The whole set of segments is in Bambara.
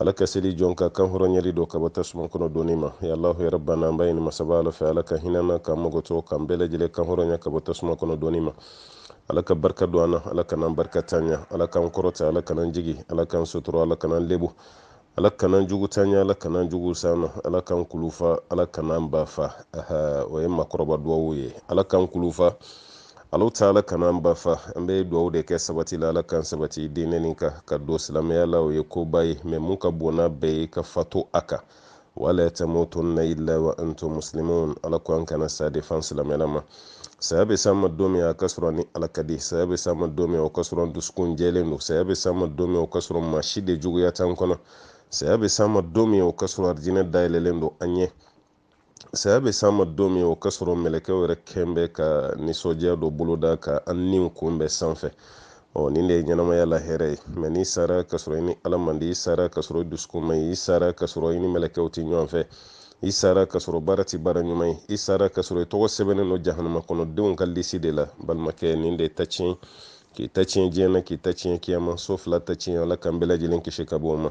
ala ka seli jɔn ka kan hɔrɔnyali dɔ ka bɔ tasuma kɔnɔ donni ma ya allahu ya rabbana an b'a ɲini masaba ala fɛ ala ka hin'an na k'an makoto k'an bɛɛ lajɛlen kan hɔrɔnya ka bɔ tasuma kɔnɔ donni ma ala ka barika don an na ala kan'an barikantanya ala k'an kɔrɔta ala kan'an jigin ala k'an sutura ala kan'an lebu ala kan'an juguntanya ala kan'an jugu s'an na ala k'an kulun fa ala kan'an ba fa o ye makɔrɔba duwawu ye ala k'an kulun fa alahu taala kana an ba fa an bɛ dugawu de kɛ sabati la ala k'an sabati diinɛ nin kan ka don silamɛya la o ye koba ye mɛ mun ka bon n'a bɛɛ ye ka fato a kan wala tamutunna illa wa antum muslimun ala ko an kana sa dɛ f'an silamɛlama saya bɛ s'an ma don min a ka sɔrɔ ni ala ka di saya bɛ s'an ma don min o ka sɔrɔ dusukun jɛlen don saya bɛ s'an ma don min o ka sɔrɔ maa si de juguya t'an kɔnɔ saya bɛ s'an ma don min o ka sɔrɔ arijinɛ dayɛlɛlen don an ɲɛ saya bɛ s'an ma don min o ka sɔrɔ mɛlɛkɛw yɛrɛ kɛn bɛ ka nisɔndiya dɔ boloda ka an niw kunbɛn sanfɛ ɔ nin de ye ɲɛnamaya la hɛrɛ ye mɛ n'i sara ka sɔrɔ i ni ala man di i sara ka sɔrɔ i dusukun man ɲi i sara ka sɔrɔ i ni mɛlɛkɛw tɛ ɲɔgɔn fɛ i sara ka sɔrɔ baara tɛ baara ɲuman ye i sara ka sɔrɔ i tɔgɔ sɛbɛnnen don jahanama kɔnɔ denw ka lisi de la balimakɛ nin de y'i ta tiɲɛ k'i ta tiɲɛ diɲɛ na k'i ta tiɲɛ kiyama so fila ta tiɲɛ ala k'an bɛɛ lajɛlen kisi ka bɔ o ma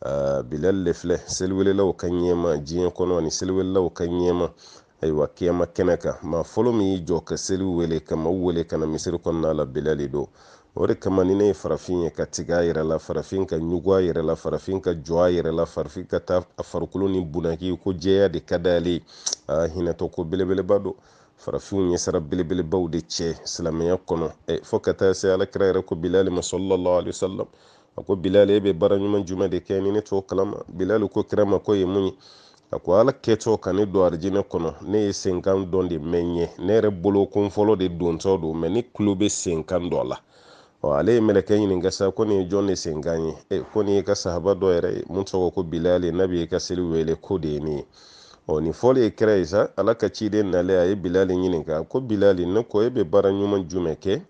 aa bilal le filɛ seliwelelaw ka ɲɛmaa diɲɛ kɔnɔ ani seliwelelaw ka ɲɛmaa ayiwa kiyama kɛnɛ kan maa fɔlɔ min y'i jɔ ka seli wele ka maaw wele ka na misiri kɔnɔna la bilal de don o de kama ni ne ye farafin ye ka tigɛ a yɛrɛ la farafin ka ɲugun a yɛrɛ la farafin ka jɔn a yɛrɛ la farafin ka taa a farikolo nin bunaki ko jɛya de ka d'ale a hinɛtɔ ko belebeleba don farafinw ye sara belebelebaw de cɛ silamɛya kɔnɔ fo ka taa se ala kira yɛrɛ ko bilali ma sallallahu alaihi wasallam a ko bilali e bɛ baara ɲuman jumɛn de kɛ ni ne t'o kalama bilali ko kira ma k'o ye mun ye a ko ala kɛtɔ ka ne don arijinɛ kɔnɔ ne ye senkan dɔ de mɛn n ɲɛ ne yɛrɛ bolo ko n fɔlɔ de dontɔ don mɛ ne tulo bɛ senkan dɔ la ɔ ale ye mɛlɛkɛ ɲininka sa ko nin ye jɔn de senkan ye e ko nin y'i ka sahaba dɔ yɛrɛ ye mun tɔgɔ ko bilali n'a bɛ ka seli wele k'o de ye nin ye ɔ nin fɔli ye kira ye sa ala ka ciden nalen a ye bilali ɲininka ko bilali ne ko e bɛ baara ɲuman jumɛn kɛ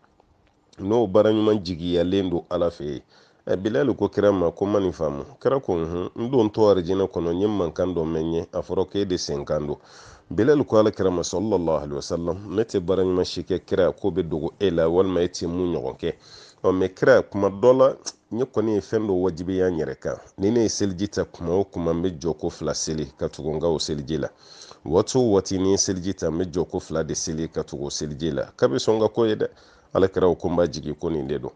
n'o baara ɲuman jigiyalen don ala fɛ yen ɛ bilali ko kira ma ko n ma nin faamu kira ko hun n dontɔ arijinɛ kɔnɔ n ye mankan dɔ mɛn yen a fɔra ko e de senkan don bilali ko ala kira ma sallallahu alaihi wasallam ne tɛ baara ɲuman si kɛ kira k'o bɛ dogo e la walima e tɛ mun ɲɔgɔn kɛ ɔ mɛ kira kuma dɔ la ne kɔni ye fɛn dɔ wajibiya n yɛrɛ kan ni ne ye seliji ta kuma o kuma n bɛ jɔko fila seli ka tugu n ka o seliji la waati o waati ni n ye seliji ta n bɛ jɔko fila de seli ka tugu o seliji la k'a bɛ sɔn ka k'o ye dɛ ala kira o ko n b'a jigi ko nin de don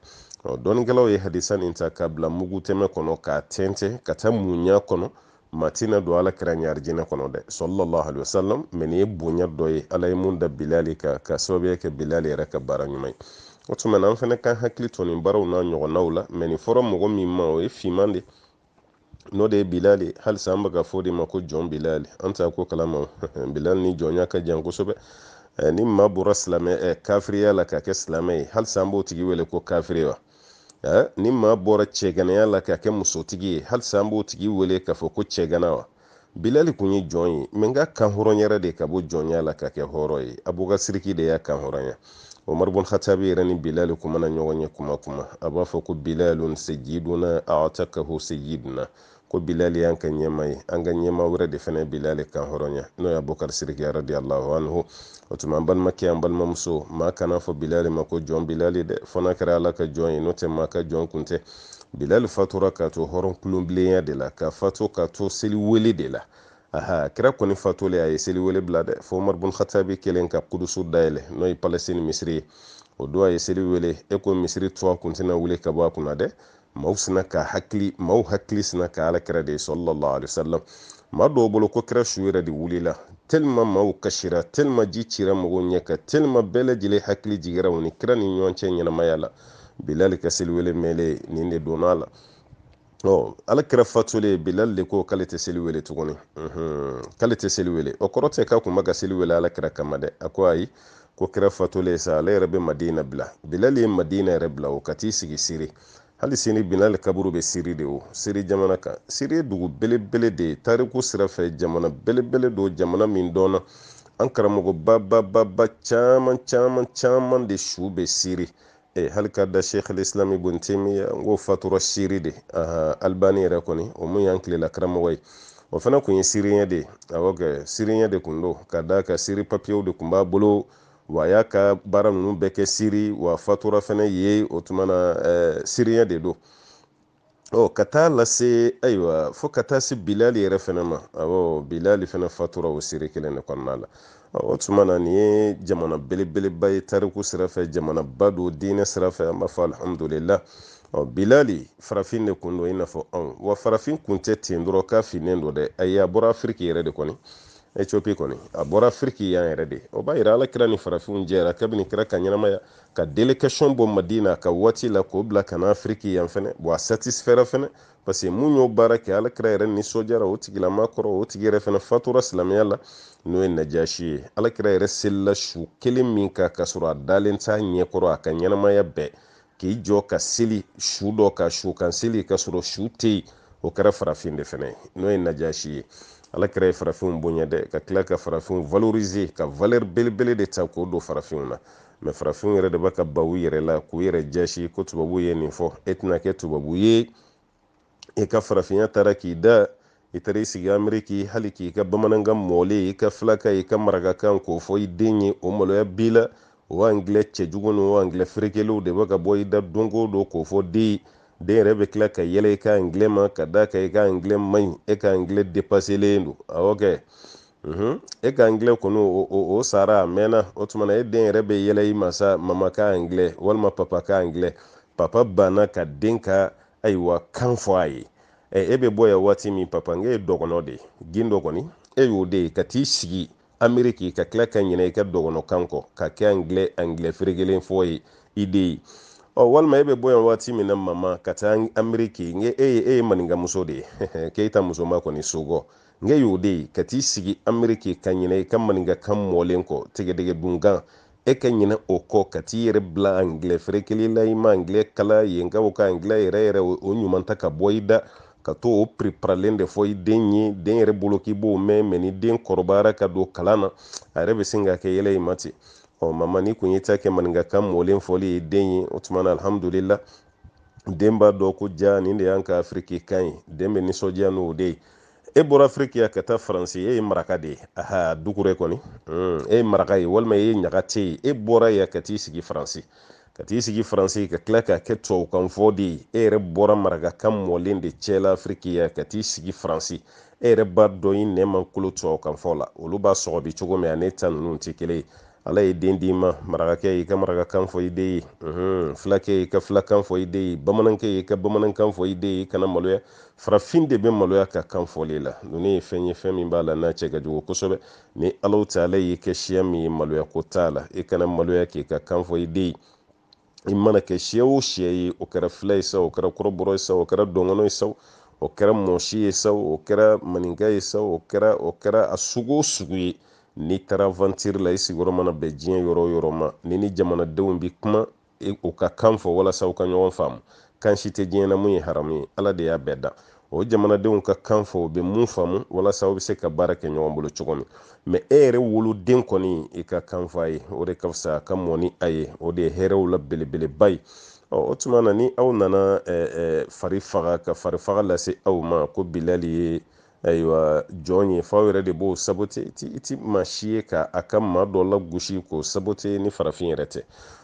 dɔnnikɛlaw ye hadisa nin ta k'a bila mugutɛmɛ kɔnɔ k'a tɛntɛn ka taa mun y'a kɔnɔ maa tɛna don ala kira ɲɛ arijinɛ kɔnɔ dɛ sallallahu alaihi wasallam mɛ nin ye bonya dɔ ye ala ye mun da bilali kan k'a sababuya kɛ bilali yɛrɛ ka baara ɲuman ye o tuma na an fana kan hakili to nin baaraw n'a ɲɔgɔnnaw la mɛ nin fɔra mɔgɔ min ma o ye finman de n'o de ye bilal ye halisa an bɛ k'a fɔ de ma ko jɔn bilali an t'a ko kalama bilali ni jɔnya ka jan kosɛbɛ eh, ni maa bɔra silamɛ eh, kafiriya la ka kɛ silamɛ ye halisa an b'o tigi wele ko kafiri wa eh, ni maa bɔra cɛganaya la ka kɛ musotigi ye halisa an b'o tigi wele k'a fɔ ko cɛgana wa bilali kun ye jɔn ye mais nk'a kan hɔrɔnyara de ka bɔ jɔnya la ka kɛ hɔrɔn ye abuka siriki de y'a kan hɔrɔnya umar bun khatabi yɛrɛ ni bilali kun mana ɲɔgɔn ye kuma kuma a b'a fɔ ko bilalun sayyiduna a'takahu sayyiduna ko bilali y'an ka ɲɛmaa ye an ka ɲɛmaa wɛrɛ de fana bilali kan hɔrɔnya n'o ye abubakar siriki radiallahu anhu o tuma an balimakɛ an balimamuso maa kan'a fɔ bilali ma ko jɔn bilali dɛ fo n'a kɛra ala ka jɔn ye n'o tɛ maa ka jɔn kun tɛ bilali fatura ka to hɔrɔn kulonbilenya de la ka fatu ka to seli wele de la ala kira kɔni fatulen a ye seli wele bila dɛ fo umar bun khatabi kɛlen ka kudusu dayɛlɛ n'o ye palestine misiri ye o don a ye seli wele i ko misiri toit kun bɛna wuli ka bɔ a kunna dɛ maaw sinna ka hakili maaw hakili sinna ka ala kira de ye sallallahu alaihi wasallam maa dɔw bolo ko kira su yɛrɛ de wulila tellement maaw kasira tellement ji cira mɔgɔw ɲɛ kan tellement bɛɛ lajɛlen hakili jigira u ni kira ni ɲɔgɔn cɛ ɲɛnamaya la bilali ka seliwele mɛlen nin de donna a la ɔ ala kira fatulen bilali de ko k'ale tɛ seli wele tuguni k'ale tɛ seli wele o kɔrɔ tɛ k'a kun bɛ ka seli wele ala kira kama dɛ a ko ayi ko kira fatulen sa ale yɛrɛ bɛ madina bila bilali ye madina yɛrɛ bila o ka t'i sigi siri hali sini bilali kaburu bɛ siri de o siri jamana kan siri ye dugu belebele de ye tariku sira fɛ jamana belebele don jamana min dɔnna an karamɔgɔ babababa caman caman caman de su bɛ siri e hali ka da sheikh al-islam ibn taymiya n k'o fatura siri de albani yɛrɛ kɔni o mun y'an tilela karamɔgɔ ye o fana kun ye siriɲɛ de ye awɔ kɛ siriɲɛ de kun don ka d'a kan siri papiyew de kun b'a bolo wa a y'a ka baara ninnu bɛɛ kɛ siri w'a fatura fana yen o tuma na siriɲɛ de don ɔ ka taa lase ayiwa fo ka taa se bilali yɛrɛ fana ma awɔ bilali fana fatura o siri kelen de kɔnɔna la o tuma na nin ye jamana belebeleba ye tariku sira fɛ jamanaba don diinɛ sira fɛ an b'a fɔ alihamudulila ɔ bilali farafin de kun don i n'a fɔ anw wa farafin kun tɛ ten dɔrɔn k'a finnen don dɛ ayi a bɔra afiriki yɛrɛ de kɔni ethiopie kɔni a bɔra afiriki yan yɛrɛ de o b'a yira ala kira ni farafinw jɛra kabini kira ka ɲɛnamaya ka délégation bɔ madina ka waati la k'o bila ka na afiriki yan fɛnɛ bɔn a satisifɛra fɛnɛ parce que mun y'o baara kɛ ala kira yɛrɛ nisɔndiyara o tigilama kɔrɔ o tigi yɛrɛ fɛnɛ fatura silamɛya la n'o ye najashi ye ala kira yɛrɛ selila su kelen min kan k'a sɔrɔ a dalen t'a ɲɛkɔrɔ a ka ɲɛnamaya bɛɛ k'i jɔ ka seli su dɔ ka su kan seli k'a sɔrɔ su tɛ yen o kɛra farafin de fɛnɛ ye n'o ye najashi ye ala kira ye farafinw bonya dɛ ka tila ka farafinw valoriser ka valeur belebele de ta k'o don farafinw na mɛ farafinw yɛrɛ de bɛ ka ban u yɛrɛ la k'u yɛrɛ jaasi ko tubabu ye nin fɔ e tɛna kɛ tubabu ye i ka farafinya taara k'i da i taara i sigi ameriki hali k'i ka bamanankan mɔlen i ka filakan i ka marakakan k'o fɔ i den ye o maloya b'i la o angilɛ cɛjugu ni o angilɛ ferekelenw de bɛ ka bɔ i da don o don k'o fɔ den den yɛrɛ bɛ tila ka yɛlɛ i ka angilɛ ma ka d'a kan i ka angilɛ man ɲi e ka angilɛ depaselen don awɔ kɛ Mhm. e ka anglɛ kɔni o sara a mɛnna o tuma na e den yɛrɛ bɛ yɛlɛ i ma sa mama ka anglɛ walima papa ka anglɛ papa banna ka den ka ayiwa kan fɔ a ye ɛ e bɛ bɔ yan waati min papa n ye dɔgɔnɔ de gindo kɔni e y'o de ye ka t'i sigi ameriki ka tila ka ɲinɛ i ka dɔgɔnɔkan kɔ ka kɛ anglɛ anglɛ ferekelen fɔ ye i den ye ɔ walima e bɛ bɔ yan waati min na mama ka taa ameriki n ye e ye e ye maninkamuso de ye keyita musoman kɔni suko nk'e y'o de ye ka t'i sigi ameriki ka ɲinɛ i ka maninkakan mɔlen kɔ tigadɛgɛ dunkan e ka ɲinɛ o kɔ ka t'i yɛrɛ bila angilɛ ferekelen la i ma angilɛ kalan yen ka o ka angilɛ yɛrɛ yɛrɛ o ɲuman ta ka bɔ i da ka to o preparalen de fɔ i den ye den yɛrɛ bolo k'i b'o mɛn mɛ ni den kɔrɔbayara ka don kalan na a yɛrɛ bɛ sin ka kɛ yɛlɛ i ma ten ɔ mama n'i kun ye ta kɛ maninkakan mɔlen fɔli ye den ye o tuma na alhamdulila den b'a dɔn ko jaa nin de y'an ka afiriki kan ye den bɛ nisɔndiya n'o de ye e bɔra afiriki yan ka taa faransi e ye maraka de ye aha dukure kɔni hmm, e ye maraka ye walima e ye ɲagatɛ ye e bɔra yan ka t'i sigi faransi ka t'i sigi faransi ka tila ka kɛ tubabukan fɔ den ye e yɛrɛ bɔra marakakan mɔlen de cɛla afiriki yan ka t'i sigi faransi e yɛrɛ b'a dɔn i nɛn ma kolo tubabukan fɔ la olu b'a sɔgɔbɛ cogo min a n'i ta ninnu tɛ kelen ye ala ye den d'i ma marakakɛ y'i ka marakakan fɔ i den ye fulakɛ y'i ka fulakan fɔ i den ye bamanankɛ y'i ka bamanankan fɔ i den ye i kana maloya farafin de bɛ maloya ka kan fɔli la ninnu ye fɛn ye fɛn min b'a la n'a cɛ ka jugu kosɛbɛ ni ala ta ala y'i kɛ siya min ye maloya ko t'a la i kana maloya k'i ka kan fɔ i den ye i mana kɛ siya o siya ye o kɛra fila ye sa o kɛra kɔrɔbɔrɔ ye sa o kɛra dɔngɔnɔ ye sa o kɛra mɔsi ye sa o kɛra maninka ye sa o kɛra o kɛra a sugu o sugu ye n'i taara vantiri la i sigiyɔrɔ mana bɛn diɲɛ yɔrɔ o yɔrɔ ma n'i ni jamanadenw bi kuma e, u ka kan fɔ walasa u ka ɲɔgɔn faamu kan si tɛ diɲɛ na mun ye haramu ye ala de y'a bɛɛ dan o jamanadenw ka kan fɔ u bɛ mun faamu walasa aw bɛ se ka baara kɛ ɲɔgɔn bolo cogo min mɛ e yɛrɛ woloden kɔni i ka kan fɔ a ye o de ka fisa ka mɔn ni a ye o de ye hɛrɛw la belebeleba ye o tuma na ni aw nana farifaga ka farifaga lase aw ma ko bilali ye ayiwa jɔn ye f'aw yɛrɛ de b'o sabote i ti maa si ye ka a ka maa dɔ lagosi k'o sabote ni farafin yɛrɛ tɛ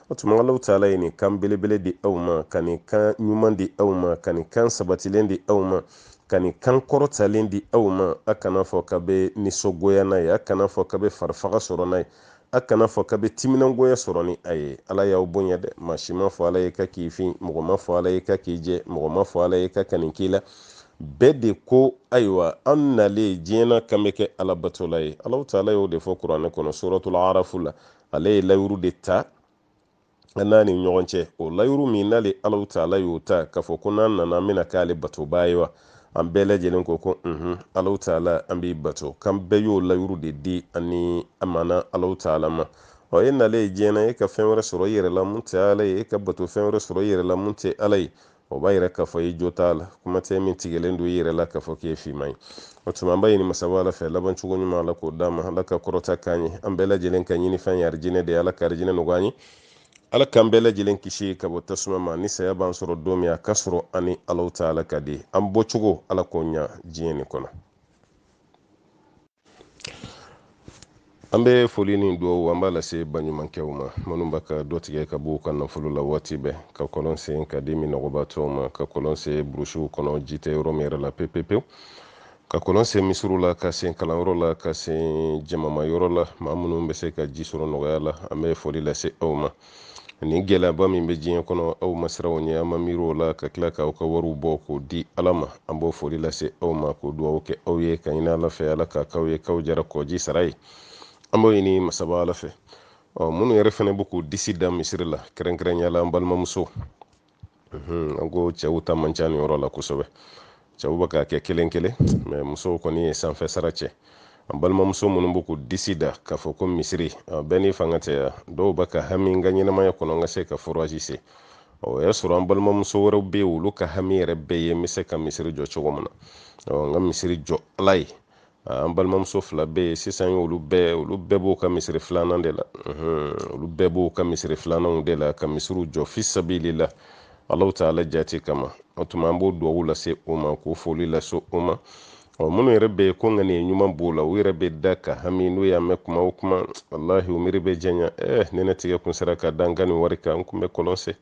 O tuma Alahu Taala ye nin kan belebele di aw ma, ka nin kan ɲuman di aw ma, ka nin kan sabatilen di aw ma, ka nin kan kɔrɔtalen di aw ma, a kana fɔ k'a bɛ nisɔngoya n'a ye, a kana fɔ k'a bɛ farifaga sɔrɔ n'a ye, a kana fɔ k'a bɛ timinangoya sɔrɔ ni a ye. Ala y'aw bonya dɛ, maa si ma fɔ Ala ye k'a k'i fin, mɔgɔ ma fɔ Ala ye k'a k'i jɛ, mɔgɔ ma fɔ Ala ye k'a ka nin k'i la. Bɛɛ de ko ayiwa an nalen diɲɛ na k'an bɛ kɛ Ala batola ye. Alahu Taala y'o de fɔ Kurane kɔnɔ, Suratul Arafu la. ale ye layuru de ta an n'a ni ɲɔgɔn cɛ o layuru min n'ale alahu taala y'o ta k'a fɔ ko n'an nana an bɛna k'ale batobaa ye wa an bɛɛ lajɛlen ko ko unhun alahu taala an b'i bato k'an bɛɛ y'o layuru de di ani amana alahu taala ma ɔ e nalen ye diɲɛ na e ka fɛn wɛrɛ sɔrɔ i yɛrɛ la mun tɛ ala ye e ka bato fɛn wɛrɛ sɔrɔ i yɛrɛ la mun tɛ ala ye o b'a yira k'a fɔ i jo t'a la kuma tɛ min tigɛlen don i yɛrɛ la k'a fɔ k'i ye finman ye o tuma an b'a ɲini masaba ala fɛ laban cogo ɲuman ala k'o d'an ma ala ka kɔrɔta k'an ye an bɛɛ lajɛlen ka ɲinifɛn ye arijinɛ de ye ala ka arijinɛ nɔgɔya an ye ala k'an bɛɛ lajɛlen kisi ka bɔ tasuma ma ni saya b'an sɔrɔ don min a ka sɔrɔ an ni alahu taala ka di an bɔcogo ala k'o ɲa diɲɛ nin kɔnɔ an bɛ foli ni dugawu an b'a lase baɲumankɛw ma minnu bɛ ka dɔ tigɛ ka b'u ka nafolo la waati bɛɛ ka kɔlɔn sen k'a di minnɔgɔbaatɔw ma ka kɔlɔn sen burusiw kɔnɔ ji tɛ yɔrɔ min yɛrɛ la pepepewu ka kɔlɔn sen misiriw la k'a sen kalanyɔrɔ la k'a sen jamamayɔrɔ la maa minnu bɛ se ka ji sɔrɔ nɔgɔya la an bɛ foli lase aw ma nin gɛlɛyaba min bɛ diɲɛ kɔnɔ aw ma siran o ɲɛ a ma miiri o la ka tila k'aw ka wariw bɔ k'o di ala ma an b'o foli lase aw ma k'o dugawu kɛ aw ye k'a ɲini ala fɛ ala k'a k'aw ye k'aw jara kɔji sara ye an b'o ɲini masaba ala fɛ ɔ minnu yɛrɛ fana bɛ k'u disi da misiri la kɛrɛnkɛrɛnya la an balimamuso an ko cɛw ta man ca nin yɔrɔ la kosɛbɛ cɛw bɛ k'a kɛ kelen kelen mɛ musow kɔni ye sanfɛ sara cɛ an balimamuso minnu bɛ k'u disi da k'a fɔ ko misiri bɛɛ n'i fanga tɛ yan dɔw bɛ ka hami n ka ɲɛnamaya kɔnɔ n ka se ka forazi sen o y'a sɔrɔ an balimamuso wɛrɛw bɛ yen olu ka hami yɛrɛ bɛɛ ye n bɛ se ka misiri jɔ cogo min na n ka misiri jɔ ala ye an balimamuso fila bɛ yen sisan olu bɛɛ olu bɛɛ b'u ka misiri filanan de la olu bɛɛ b'u ka misiri filananw de la ka misiriw jɔ fi sabilila alahu taala jati kama o tuma an b'o duwawu lase u ma k'o foli lase u ma ɔ minnu yɛrɛ bɛ yen ko ŋaniya ɲuman b'u la u yɛrɛ bɛ da ka hami n'u y'a mɛn kuma o kuma walahi u miiri bɛ janya eh ni ne tigɛ kun sera ka da n ka nin wari kan n kun bɛ kɔlɔn sen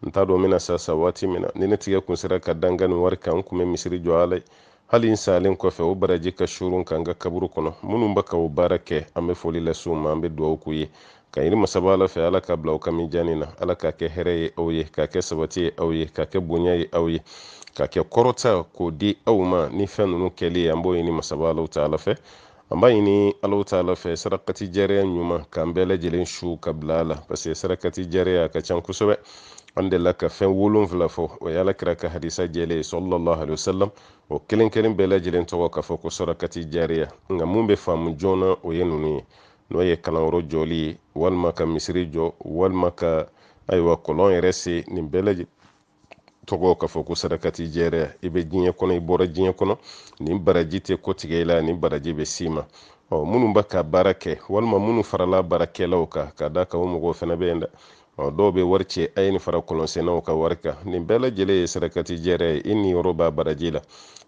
n t'a dɔn n bɛna sa sa waati min na ni ne tigɛ kun sera ka da n ka nin wari kan n kun bɛ misiri jɔ ala ye hali n salen kɔfɛ o baraji ka suuru n kan n ka kaburu kɔnɔ minnu bɛ ka o baara kɛ an bɛ foli lase u ma an bɛ dugawu k'u ye k'a ɲini masaba ala fɛ ala k'a bila aw ka mijaani na ala k'a kɛ hɛrɛ ye aw ye k'a kɛ sabati ye aw ye k'a kɛ bonya ye aw ye k'a kɛ kɔrɔta k'o di aw ma ni fɛn ninnu kɛli ye an b'o ɲini masaba alahu taala fɛ an b'a ɲini alahu taala fɛ sarakati jariya ɲuman k'an bɛɛ lajɛlen su ka bila a la parce que sarakati jariya ka ca kosɛbɛ an delila ka fɛn wolonfila fɔ o ye ala kira ka hadisa jɛlen ye sallallahu alayhi wa sallam o kelen kelen bɛɛ lajɛlen tɔgɔ k'a fɔ ko sarakati jariya nka mun bɛ faamu joona o ye ninnu ye n'o ye kalanyɔrɔ jɔli ye walima ka misiri jɔ walima ka ayiwa kɔlɔn yɛrɛ sen nin bɛɛ lajɛlen tɔgɔ k'a fɔ ko sarakati jariya i bɛ diɲɛ kɔnɔ i bɔra diɲɛ kɔnɔ nin baraji tɛ kɔtigɛ i la nin baraji bɛ s'i ma ɔ minnu bɛ ka baara kɛ walima minnu farala baarakɛlaw kan ka da kan o mɔgɔw fana bɛ yen dɛ ɔ dɔw bɛ wari ci a ye nin fara kɔlɔnsennaw ka wari kan nin bɛɛ lajɛlen ye sarakati jariya ye i niyɔrɔ b'a baraji la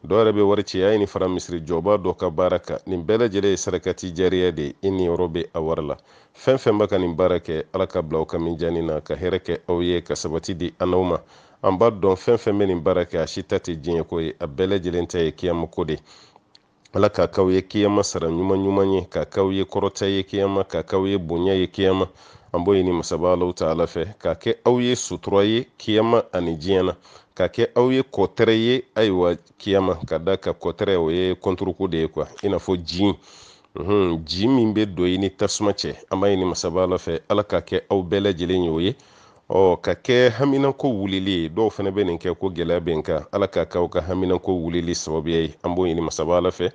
dɔw yɛrɛ bɛ wari ci a ye nin fara misiri jɔbaa dɔ ka baara kan nin bɛɛ lajɛlen ye sarakati jariya de ye i niyɔrɔ bɛ a wari la fɛn fɛn bɛ ka nin baara kɛ ala k'a bila aw ka mijaani na ka hɛrɛ kɛ aw ye ka sabati di an n'aw ma an b'a dɔn fɛn fɛn bɛ nin baara kɛ a si ta tɛ diɲɛ ko ye a bɛɛ lajɛlen ta ye kiyama ko de ala k'a k'aw ye kiyama sara ɲuman ɲuman ye k'a k'aw ye kɔrɔta ye kiyama k'a k'aw ye bonya ye kiyama an b'o ɲini masaba alahu taala fɛ k'a kɛ aw ye sutura ye kiyama ani diɲɛ na k'a kɛ aw ye kɔtɛrɛ ye ayiwa kiyama ka da kan kɔtɛrɛ o ye kɔnturuko de ye quoi i n'a fɔ ji ji min bɛ don i ni tasuma cɛ an b'a ɲini masaba ala fɛ ala k'a kɛ aw bɛɛ lajɛlen ye o ye ɔ k'a kɛ haminako wulili ye dɔw fana bɛ nin kɛ ko gɛlɛya bɛ n kan ala k'a kɛ aw ka haminako wulili sababuya ye an b'o ɲini masaba ala fɛ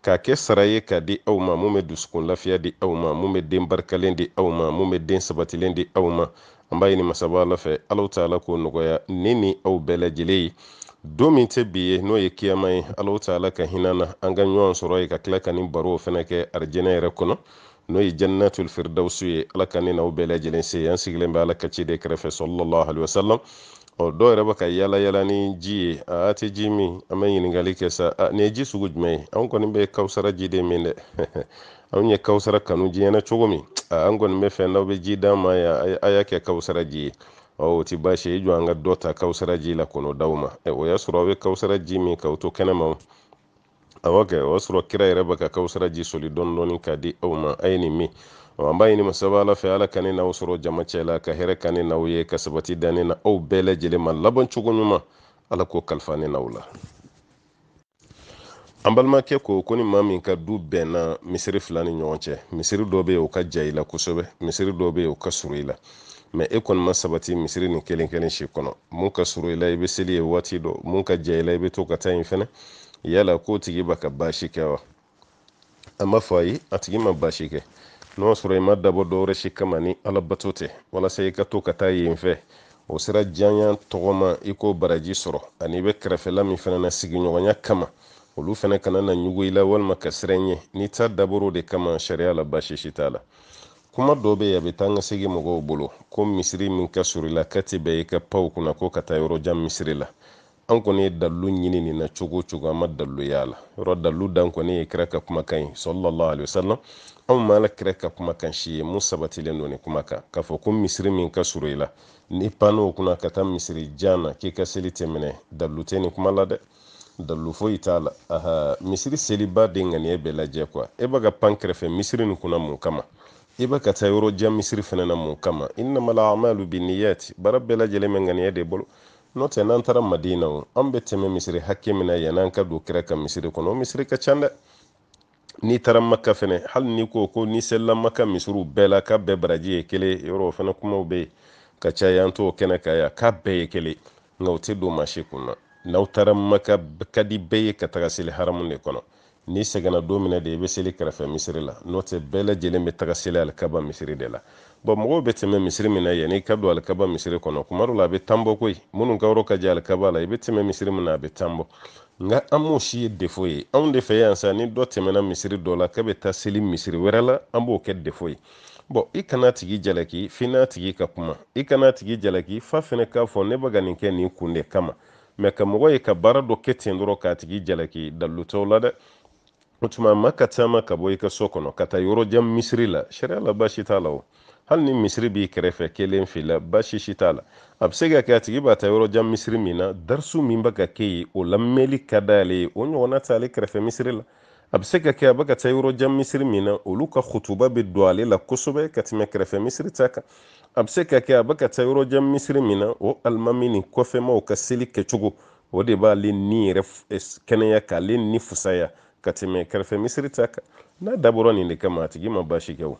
k'a kɛ sara ye k'a di aw ma mun bɛ dusukun lafiya di aw ma mun bɛ den barikalen di aw ma mun bɛ den sabatilen di aw ma an b'a ɲini masaba ala fɛ alahu taala k'o nɔgɔya ne ni aw bɛɛ lajɛlen ye don min tɛ bi ye n'o ye kiyama ye alahu taala ka hinɛ na an ka ɲɔgɔn sɔrɔ yen ka tila ka nin baro fana kɛ arijɛnɛ yɛrɛ kɔnɔ n'o ye jannatul firdawsu ye ala ka ne n'aw bɛɛ lajɛlen se yen an sigilen bɛ ala ka ciden kɛrɛfɛ sallallahu alayhi wa sallam ɔ dɔw yɛrɛ bɛ ka yala yala ni ji ye a tɛ ji min an bɛ ɲininkali kɛ sa nin ye ji sugu jumɛn ye anw kɔni bɛ kawusara ji de min dɛ anw ye kawusara kanu diɲɛ na cogo min an kɔni b'a fɛ n'aw bɛ ji d'an ma yan a y'a kɛ kawusara ji ye ɔ o tɛ baasi ye i jɔ an ka dɔ ta kawusara ji la kɔnɔ d'aw ma o y'a sɔrɔ aw bɛ kawusara ji min k'aw to kɛnɛma awɔ kɛ o y'a sɔrɔ kira yɛrɛ bɛ ka kawusara ji soli dɔɔni dɔɔni k'a di aw ma a ye nin min an b'a ɲini masaba ala fɛ ala ka ne n'aw sɔrɔ jama cɛ la ka hɛrɛ kɛ ne n'aw ye ka sabati di ne ni aw bɛɛ lajɛlen ma laban cogo ɲuman ala k'o kalifa ne n'aw la an balimakɛ ko ko ni maa min ka du bɛnna misiri fila ni ɲɔgɔn cɛ misiri dɔ bɛ yen o ka jan i la kosɛbɛ misiri dɔ bɛ yen o ka surun i la mais e kɔni ma sabati misiri nin kelen kelen si kɔnɔ mun ka surun i la i bɛ seli yen waati dɔ mun ka jan i la i bɛ to ka taa yen fɛnɛ yala k'o tigi bɛ ka baasi kɛ wa an b'a fɔ ayi a tigi ma baasi kɛ n'o y'a sɔrɔ i m'a dabɔ dɔwɛrɛ si kama ni ala bato tɛ walasa i ka to ka taa yen fɛ o sira janya tɔgɔma i k'o baraji sɔrɔ ani i bɛ kɛrɛfɛla min fana na sigiɲɔgɔnya kama olu fana kana na ɲugu i la walima ka siran i ɲɛ n'i ta dabɔr'o de kama sariya la baasi si t'a la kuma dɔ bɛ yen a bɛ taa ni ka segin mɔgɔw bolo ko misiri min ka surun i la k'a tɛ bɛn i ka pan o kunna ko ka taa yɔrɔ jan misiri la an kɔni ye dalilu ɲini nin na cogo o cogo an ma dalilu y'a la yɔrɔ dalilu dan kɔni ye kira ka kumakan ye sallallahu alayhi wa sallam anw ma ala kira ka kumakan si ye mun sabatilen don nin kuma kan k'a fɔ ko misiri min ka surun i la n'i panna o kunna ka taa misiri jan na k'i ka seli tɛ minɛ dalilu tɛ nin kuma la dɛ dalilu foyi t'a la aha misiri selibaa de ŋaniya bɛ lajɛ quoi e bɛ ka pan kɛrɛfɛ misiri nin kunna mun kama i e bɛ ka taa yɔrɔ jan misiri fɛnɛ na mun kama innamal a'malu binniyati baara bɛɛ lajɛlen bɛ ŋaniya de bolo n'o tɛ n'an taara madina o an bɛ tɛmɛ misiri hakɛ min na yann'an ka don kira ka misiri kɔnɔ o misiri ka ca dɛ n'i taara maka fɛnɛ hali n'i ko ko n'i selila maka misiriw bɛɛ la k'a bɛɛ baraji ye kelen yɔrɔ o fɛnɛ kumaw bɛ yen ka caya an t'o kɛnɛ kan yan k'a bɛɛ ye kelen nka o tɛ don maa si kun na n'aw taara maka a ka di bɛɛ ye ka taga seli haramu de kɔnɔ n'i sɛgɛnna don min na de i bɛ seli kɛrɛfɛ misiri la n'o tɛ bɛɛ lajɛlen bɛ taga seli alikaba misiri de la bon mɔgɔw bɛ tɛmɛ misiri min na yanni i ka don alikaba misiri kɔnɔ kuma dɔ la a bɛ tan bɔ koyi minnu ka yɔrɔ ka jan alikaba la i bɛ tɛmɛ misiri min na a bɛ tan bɔ nka an m'o si ye defo ye anw de fɛ yan sa ni dɔ tɛmɛna misiri dɔ la k'a bɛ taa seli misiri wɛrɛ la an b'o kɛ defo ye bon i kan'a tigi jalaki f'i n'a tigi ka kuma i kan'a tigi jalaki f'a fɛnɛ k'a fɔ ne bɛ ka nin kɛ nin kun de kama mais ka mɔgɔ ye ka baara dɔ kɛ ten dɔrɔn k'a tigi jalaki dalilu t'o la dɛ o tuma maa ka taama ka bɔ i ka so kɔnɔ ka taa yɔrɔ jan misiri la sariya la baasi t'a la o hali ni misiri b'i kɛrɛfɛ kelen fila baasi si t'a la a bɛ se ka kɛ a tigi bɛ taa yɔrɔ jan misiri min na darisu min bɛ ka kɛ yen o lamɛnli ka d'ale ye o ɲɔgɔnna t'ale kɛrɛfɛ misiri la a bɛ se ka kɛ a bɛ ka taa yɔrɔ jan misiri min na olu ka khutuba bɛ don ale la kosɛbɛ ka tɛmɛ kɛrɛfɛ misiri ta kan a bɛ se ka kɛ a bɛ ka taa yɔrɔ jan misiri min na o alimami ni kɔfɛmaw ka seli kɛcogo o de b'ale ni yɛrɛ eh, kɛnɛya k'ale ni fusaya ka tɛmɛ kɛrɛfɛ misiri ta kan n'a dabɔra nin de kama a tigi ma baasi kɛ o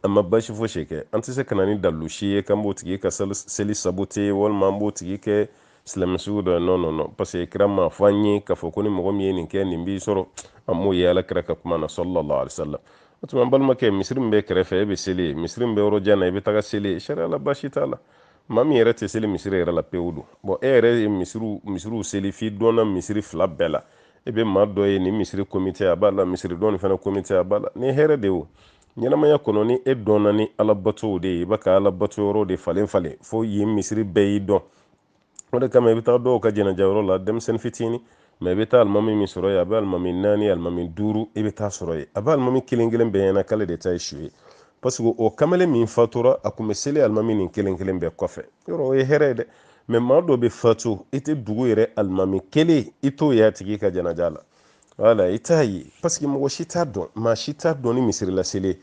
a ma baasi fosi kɛ an tɛ se ka na ni dalilu si ye k'an b'o tigi ka seli sabote walima an b'o tigi kɛ silamɛ sugu dɔ ye non non non parce que kira m'a fɔ an ye k'a fɔ ko ni mɔgɔ min ye nin kɛ nin b'i sɔrɔ an m'o ye ala kira ka kuma na sallallahu alaihi wasallam o tuma an balimakɛ misiri min bɛ kɛrɛfɛ e bɛ seli yen misiri min bɛ yɔrɔ jan na i bɛ taga seli yen sariya la baasi t'a la maa min yɛrɛ tɛ seli misiri yɛrɛ la pewu dun bon e yɛrɛ ye misiriw misiriw seli f'i dɔnna misiri fila bɛɛ la e bɛ maa dɔ ye nin misiri komite a b'a la misiri dɔ nin fana komite a b'a la ni hɛrɛ de o ɲɛnamaya kɔnɔ ni e dɔnna ni ala batow de ye i bɛ ka ala bato yɔrɔ de falen falen fo yen misiri bɛɛ y'i dɔn o de kama i bɛ taa dɔw ka jɛnɛja yɔrɔ la denmisɛnnin fitinin mɛ i bɛ taa alimami min sɔrɔ yen a bɛ alimami naani alimami duuru i bɛ taa sɔrɔ yen a bɛ alimami kelen kelen bɛɛ ɲɛna k'ale de ta ye su ye parce que o kamalen min fatura a tun bɛ seli alimami nin kelen kelen bɛɛ kɔfɛ yɔrɔ o ye hɛrɛ ye dɛ mɛ maa dɔ bɛ fatu i tɛ dugu yɛrɛ alimami kelen i t'o y'a tigi ka janaja la wala i t'a ye parce que mɔgɔ si t'a dɔn maa si t'a dɔn ni misiri la seli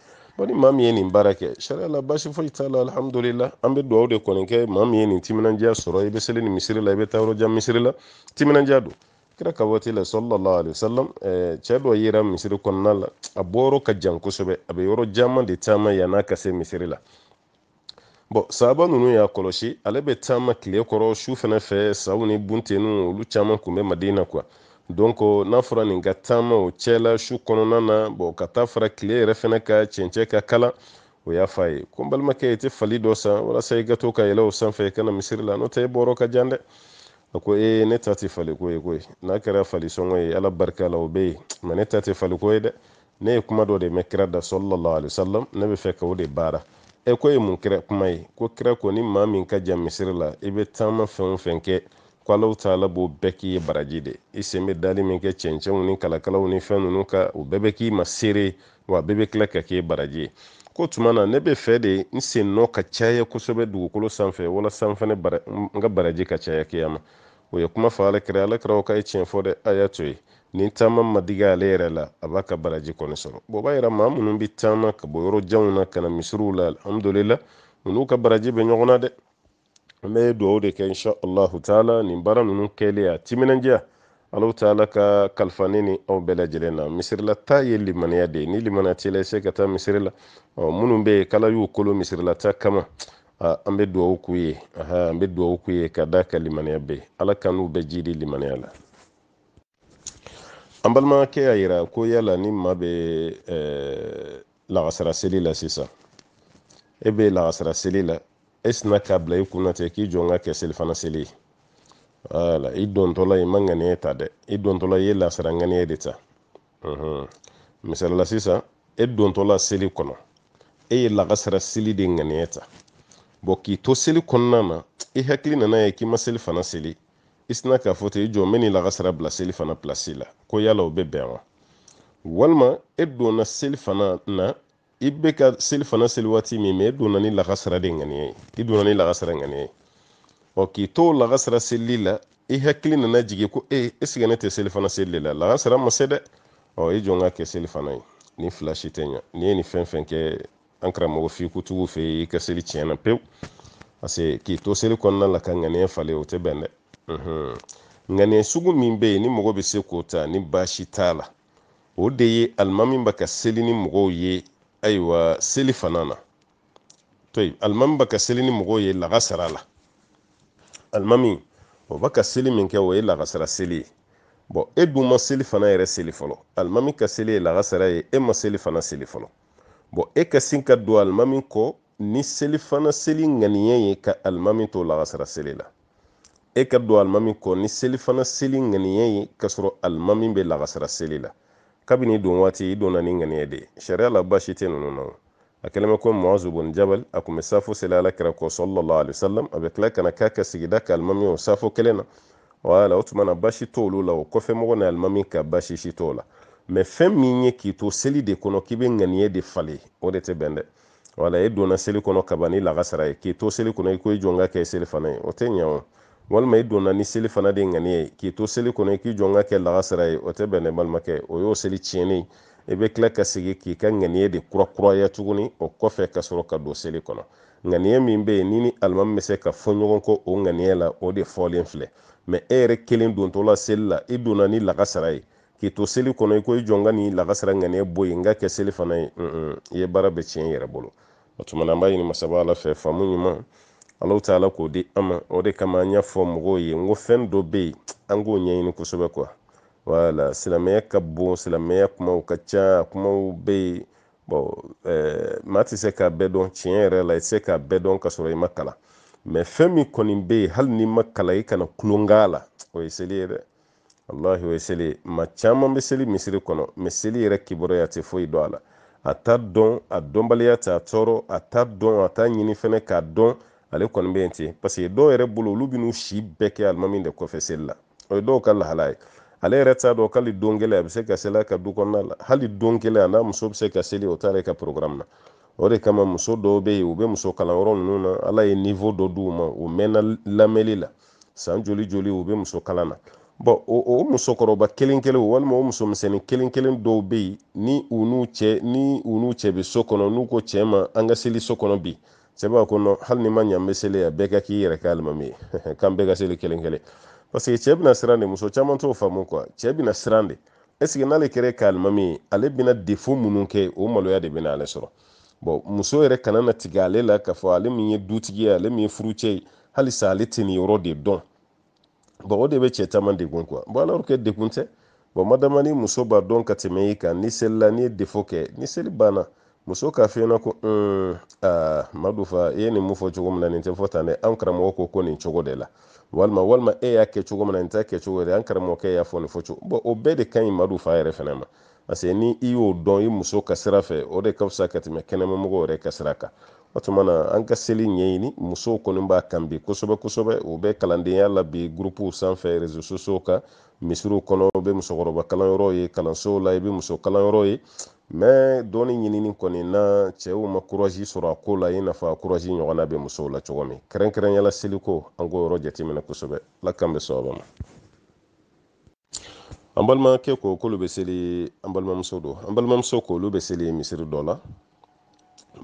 ni maa min ye nin baara kɛ sariya la baasi foyi t'a la alihamudulila an bɛ dugawu de kɔni kɛ maa min ye nin timinandiya sɔrɔ i bɛ seli nin misiri la i bɛ taa yɔrɔ jan misiri la timinandiya don kira ka waati la sallallahu alaihi wasallam eh, cɛ dɔ yera misiri kɔnɔna la a bɔyɔrɔ ka jan kosɛbɛ a bɛ yɔrɔ caman de taama yann'a ka se misiri la bon sahaba ninnu y'a kɔlɔsi ale bɛ taama tile kɔrɔ su fana fɛ saw ni bunteninw olu caman tun bɛ madina quoi donc n'a fɔra nin ka taama o cɛla su kɔnɔna na bon ka taa fara tile yɛrɛ fana ka cɛncɛ ka kalan o y'a fɔ a ye ko n balimakɛ i tɛ fali dɔ san walasa i ka to ka yɛlɛ o sanfɛ i ka na misiri la n'o tɛ e bɔyɔrɔ ka jan dɛ a ko ee ne ta tɛ faliko ye koyi n'a kɛra falisɔngɔ ye ala barika la o bɛ yen mɛ ne ta tɛ faliko ye dɛ ne ye kuma dɔ de mɛn kira da sallallahu alaihi wasallam ne bɛ fɛ ka o de baara e ko ye mun kira kuma ye ko kira ko ni maa min ka jan misiri la i bɛ taama fɛn o fɛn kɛ ko allahu taala b'o bɛɛ k'i ye baraji de i sen bɛ dali min kɛ cɛncɛnw ni kalakalaw ni fɛn ninnu kan o bɛɛ bɛ k'i ma seere wa a bɛɛ bɛ tila ka k'i baraji ye k'o tuma na ne bɛ fɛ de n sen nɔ ka caya kosɛbɛ dugukolo sanfɛ walasa n fana n ka baraji ka caya kiyama o ye kuma fɔ alakira alakira k'a ye tiɲɛ fɔ dɛ a y'a to ye ni taama ma digi ale yɛrɛ la a b'a ka baraji kɔni sɔrɔ bon o b'a yira maa minnu bɛ taama ka bɔ yɔrɔ janw na ka na misiriw la alhamdulila ninnu ka baraji bɛ ɲɔgɔn na dɛ an bɛ dugawu de kɛ insha allahu taala nin baara ninnu kɛlen a timinandiya allahu taala k'a kalifa ne ni aw bɛɛ lajɛlen na misirila taa ye limaniya de ye ni limaniya t'i la i tɛ se ka taa misiri la minnu bɛ yen k'ala y'u kolo misirila taa kama an bɛ dugawu k'u ye an bɛ dugawu k'u ye ka d'a kan limaniya bɛ ala k'an n'u bɛɛ jiidi limaniya la an balimakɛ y'a yira ko yala ni maa bɛ lagasara seli la sisan e bɛ lagasara seli la e sinna k'a bila i kunna ten k'i jɔ n k'a kɛ selifana seli ye wala i dontɔla i ma ŋaniye ta dɛ i dontɔla i ye lagasara ŋaniye de ta misali la sisan e dontɔla seli kɔnɔ e ye lagasara seli de ŋaniye ta bon k'i to seli kɔnɔna na i hakili nana ye k'i ma selifana seli i sinna k'a fɔ ten i jɔ n bɛ nin lakasara bila seli fana pilasi la ko yala o bɛ bɛn wa walima e donna seli fana na i bɛ ka seli fana seli waati min mɛ e donna ni lakasara de ŋaniya ye i donna ni lakasara ŋaniya ye ɔ k'i to lakasara selili la i hakili nana jigin ko e est-ce que ne tɛ seli fana seli de la lakasara ma se dɛ ɔ i jɔ n k'a kɛ seli fana ye nin fila si tɛ ɲa n'i ye nin fɛn fɛn kɛ an karamɔgɔ fikutigi fɛ i ka seli tiɲɛna pewu parce que k'i to seli kɔnɔna la ka ŋaniya falen o tɛ bɛn dɛ ŋaniya sugu min bɛ yen ni mɔgɔ bɛ se k'o ta ni baasi t'a la o de ye alimami bɛ ka seli ni mɔgɔw ye ayiwa seli fana na to yen alimami bɛ ka seli ni mɔgɔw ye lagasara la alimami o bɛ ka seli min kɛ o ye lagasara seli ye bɔn e dun ma seli fana yɛrɛ seli fɔlɔ alimami ka seli ye lagasara ye e ma seli fana seli fɔlɔ bɔn e ka sin ka don alimami kɔ ni selifana seli ŋaniya ye ka alimami to lagasara seli la e ka don alimami kɔ ni selifana seli ŋaniya ye ka sɔrɔ alimami bɛ lagasara seli la kabini don waati i donna ni ŋaniya de ye sariya la baasi tɛ ninnu na a kɛlen bɛ ko muazu bun jabal a tun bɛ safo seli ala kira kɔ sallallahu alaihi wasallam a bɛ tila ka na k'a ka sigida ka alimami o safo kelen na wala o tuma na baasi t'olu la o kɔfɛ mɔgɔ ni alimami ka baasi si t'o la mɛ fɛn min ye k'i to seli de kɔnɔ k'i bɛ ŋaniye de falen o de tɛ bɛn dɛ wala e donna seli kɔnɔ kaban ni lagasara ye k'i to seli kɔnɔ i ko i jɔ n k'a kɛ seli fana ye o tɛ ɲɛ o walima i donna ni seli fana de ŋaniye ye k'i to seli kɔnɔ i k'i jɔ n k'a kɛ lagasara ye o tɛ bɛn dɛ balimakɛ o y'o seli tiɲɛnen i bɛ tila ka segin k'i ka ŋaniye de kurakuraya tuguni o kɔfɛ ka sɔrɔ ka don seli kɔnɔ ŋaniya min bɛ yen n'i ni alimami bɛ se ka fɔ ɲɔgɔn kɔ o ŋaniya la o de fɔlen filɛ mɛ e yɛrɛ kelen dontɔla seli la i donna ni lakasara ye k'i to seli kɔnɔ i ko i jɔ n ka nin lakasara ŋaniya bɔ yen n k'a kɛ seli fana ye i ye baara bɛɛ tiɲɛ i yɛrɛ bolo o tuma na an b'a ɲini masaba ala fɛ faamu ɲuman allahu taala k'o di an ma o de kama an y'a fɔ mɔgɔw ye n ko fɛn dɔ bɛ yen an k'o ɲɛɲini kosɛbɛ quoi wala silamɛya ka bon silamɛya kumaw ka ca kumaw bɛ yen bɔn eh, maa tɛ se k'a bɛɛ dɔn tiɲɛ yɛrɛ la i tɛ se k'a bɛɛ dɔn ka sɔrɔ i ma kalan mɛ fɛn min kɔni bɛ yen hali n'i ma kalan i kana tulon k'a la o ye seli ye dɛ walahi o ye seli ye maa caman bɛ seli misiri kɔnɔ mɛ seli yɛrɛ kibaruya tɛ foyi dɔn a la a t'a dɔn a dɔnbaliya t'a tɔɔrɔ a t'a dɔn a t'a ɲini fɛnɛ k'a dɔn ale kɔni bɛ yen ten paseke dɔw yɛrɛ bolo olu bɛ n'u si bɛɛ kɛ alimami de kɔfɛ seli la o ye dɔw ka lahala ye ale yɛrɛ t'a dɔn k'ale don kelen a bɛ se ka seli a ka du kɔnɔna la hali don kelen a n'a muso bɛ se ka seli o t'ale ka programme na o de kama muso dɔw bɛ yen u bɛ muso kalanyɔrɔ ninnu na ala ye niveau dɔ d'u ma u mɛnna lamɛnli la san joli joli u bɛ muso kalan na bɔn o musokɔrɔba kelen kelen walima o musomisɛnnin kelen kelen dɔw bɛ yen ni u n'u cɛ bɛ so kɔnɔ n'u ko cɛ ma an ka seli so kɔnɔ bi cɛ b'a kɔnɔ hali ni ma ɲa n bɛ seli yan bɛɛ ka k'i yɛrɛ ka alimami ye k'an bɛɛ ka seli kelen kelen parce que cɛ bɛna siran de muso caman t'o faamu quoi cɛ bɛna siran de est ce que n'ale kɛra a ka alimami ye ale bɛna défaut minnu kɛ o maloya de bɛna ale sɔrɔ bon muso yɛrɛ kana na tigɛ ale la k'a fɔ ale min ye dutigi ye ale min ye furucɛ ye halisa ale tɛ nin yɔrɔ de dɔn bon o de bɛ cɛ caman degun quoi bon alors que degun tɛ bon madama ni muso b'a dɔn ka tɛmɛ i kan ni seli la n'i ye défaut kɛ ni seli banna muso k'a f'i ɲɛna ko un aa madu fa i ye nin mun fɔ cogo min na nin tɛ fɔ tan dɛ an karamɔgɔ ko ko nin cogo de la walima walima e y'a kɛ cogo min na nin t'a kɛ cogo yɛrɛ an karamɔgɔkɛ y'a fɔ nin fɔ cogo bon o bɛɛ de ka ɲi madu fa yɛrɛ fana ma parce que ni i y'o dɔn i muso ka sira fɛ o de ka fisa ka tɛmɛ kɛnɛmamɔgɔ yɛrɛ ka sira kan o tuma na an ka seli ɲɛɲini musow kɔni b'a kan bi kosɛbɛ kosɛbɛ u bɛ kalandenya la bi gurupuw sanfɛ réseaux sociaux kan misiriw kɔnɔ u bɛ musokɔrɔba kalanyɔrɔw ye kalansow la i bɛ muso kalanyɔrɔ ye mais dɔnni ɲinini kɔni na cɛw ma courage sɔrɔ a ko la i n'a fɔ courage ɲɔgɔnna bɛ musow la cogo min kɛrɛnkɛrɛnya la seliko an k'o yɔrɔ jateminɛ kosɛbɛ ala k'an bɛɛ sɔrɔ ma an balimakɛ ko k'olu bɛ seli an balimamuso don an balimamuso ko olu bɛ seli misiri dɔ la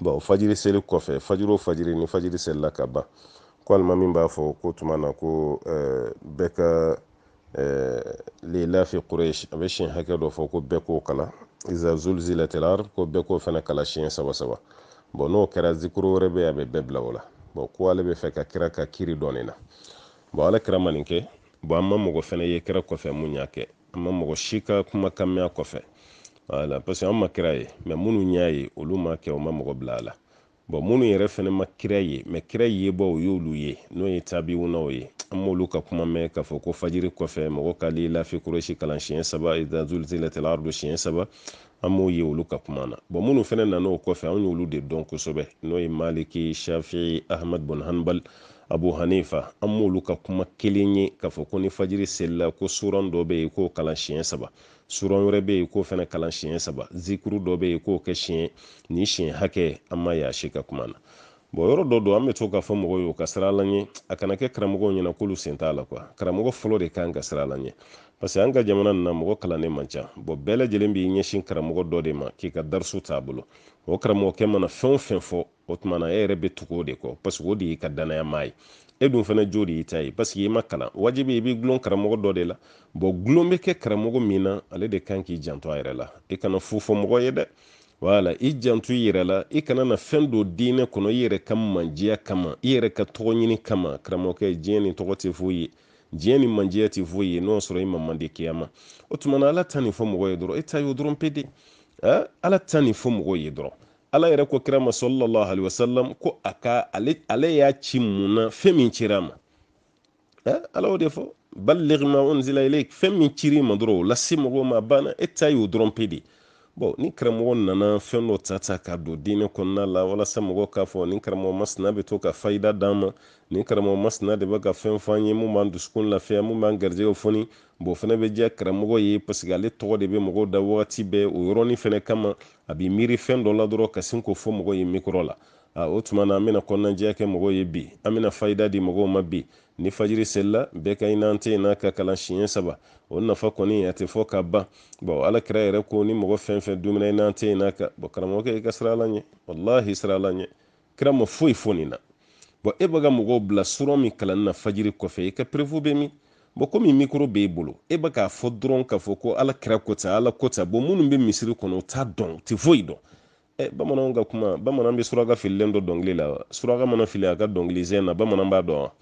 bon fajiri seli kɔfɛ fajiri o fajiri ni fajiri selila ka ban ko alimami b'a fɔ k'o tuma na ko eh, bɛɛ ka eh, li ilafi quraish a bɛ siɲɛ hakɛ dɔ fɔ ko bɛɛ k'o kalan iza zulzilatil ard ko bɛɛ k'o fana kalan siɲɛ saba saba bon n'o kɛra zikuru wɛrɛ bɛ a bɛ bɛɛ bila o la bon ko ale b'a fɛ ka kira ka kiri dɔn nin na bon ala kira ma nin kɛ bon an ma mɔgɔ fɛnɛ ye kira kɔfɛ mun y'a kɛ an ma mɔgɔ si ka kumakan mɛn a kɔfɛ voilà parce que an ma kira ye mais minnu y'a ye olu m'a kɛ u ma mɔgɔ bila a la bon minnu yɛrɛ fɛnɛ ma kira ye mais kira yebaaw y'olu ye n'o ye tabiwunaw ye an m'olu ka kuma mɛn k'a fɔ ko fajiri kɔfɛ mɔgɔ ka li ilafi quraish kalan siɲɛ saba iza zulzilatil ardu siɲɛ saba an m'o ye olu ka kuma na bon minnu fɛnɛ nana o kɔfɛ an y'olu de dɔn kosɛbɛ n'o ye maliki shafi'i ahmad bin hanbal abu hanifa an m'olu ka kuma kelen ye k'a fɔ ko ni fajiri selila ko suran dɔ bɛ yen k'o kalan siɲɛ saba suran wɛrɛ bɛ yen k'o fɛnɛ kalan siɲɛ saba zikuru dɔ bɛ yen k'o kɛ siɲɛ ni siɲɛ hakɛ an m'a y'a si ka kuma na bon yɔrɔ dɔ don an bɛ to k'a fɔ mɔgɔw ye u ka siran ala ɲɛ a kana kɛ karamɔgɔw ɲɛna k'olu sen t'a la quoi karamɔgɔ fɔlɔ de kan ka siran ala ɲɛ parce que an ka jamana nin na mɔgɔ kalannen man ca bon bɛɛ lajɛlen b'i ɲɛsin karamɔgɔ dɔ de ma k'i ka darisu t'a bolo o karamɔgɔkɛ mana fɛn o fɛn fɔ o tuma na e yɛrɛ bɛ tugu o de kɔ parce que o de y'i ka dannaya maa ye e dun fana jo de y'i ta ye parce que i ma kalan wajibi i b'i gulon karamɔgɔ dɔ de la bon gulon bɛ kɛ karamɔgɔ min na ale de kan k'i janto a yɛrɛ la i kana fu fɔ mɔgɔ ye dɛ wala i jantu i yɛrɛ la i kana na fɛn don diinɛ kɔnɔ i yɛrɛ ka manjiya kama i yɛrɛ ka tɔgɔ ɲini kama karamɔgɔkɛ diɲɛ ni tɔgɔ tɛ foyi ye diɲɛ ni manjiya tɛ foyi ye n'o y'a sɔrɔ i ma mande kiyama o tuma na ala ta nin fɔ mɔgɔ ye dɔrɔn e ta y'o dɔrɔn pe de ala ta nin fɔ mɔgɔ ye dɔrɔn ala yɛrɛ ko kira ma sallallahu alaihi wasallam ko a ka ale ale y'a ci mun na fɛn min cira a ma ɛ ala y'o de fɔ balligh ma unzila ilayk fɛn min cir'i ma dɔrɔn o lase mɔgɔw ma banna e ta y'o dɔrɔn pe de bɔn ni karamɔgɔ nana fɛn dɔ ta ta k'a don diinɛ kɔnɔna la walasa mɔgɔ k'a fɔ ni karamɔgɔ masina bɛ to ka fayida d'an ma ni karamɔgɔ masina de bɛ ka fɛn fɔ an ye mun b'an dusukun lafiya mun b'an garijɛgɛw foni bɔn fɛnɛ bɛ diya karamɔgɔ ye paseke ale tɔgɔ de bɛ mɔgɔw da wagati bɛɛ o yɔrɔnin fɛnɛ kama a bɛ miiri fɛn dɔ la dɔrɔn ka sin k'o fɔ mɔgɔ ye mikɔrɔ la a o tuma na an bɛna kɔnɔnajɛya kɛ mɔgɔw ye bi an bɛna fayida di mɔgɔw ma bi ni fajiri selila bɛɛ ka inna ataynaka kalan siɲɛ saba o nafa kɔni a tɛ fɔ ka ban bɔn ala kira yɛrɛ ko ni mɔgɔ fɛn fɛn dumina inna ataynaka bɔn karamɔgɔkɛ i ka siran ala ɲɛ walahi siran ala ɲɛ kira ma foyi fɔ nin na bɔn e bɛ ka mɔgɔw bila suran min kalanni na fajiri kɔfɛ i ka perefu bɛ min bɔn komi mikoro b'e bolo e bɛ k'a fɔ dɔrɔn k'a fɔ ko ala kira ko ten ala ko ten bɔn minnu bɛ misiri kɔnɔ u t'a dɔn u tɛ foyi dɔn Eh, bamananw ka kuma bamanan bɛ suraka fililen dɔn dɔnkili la wa suraka mana fili a ka dɔnkili sen na bamanan b'a dɔn wa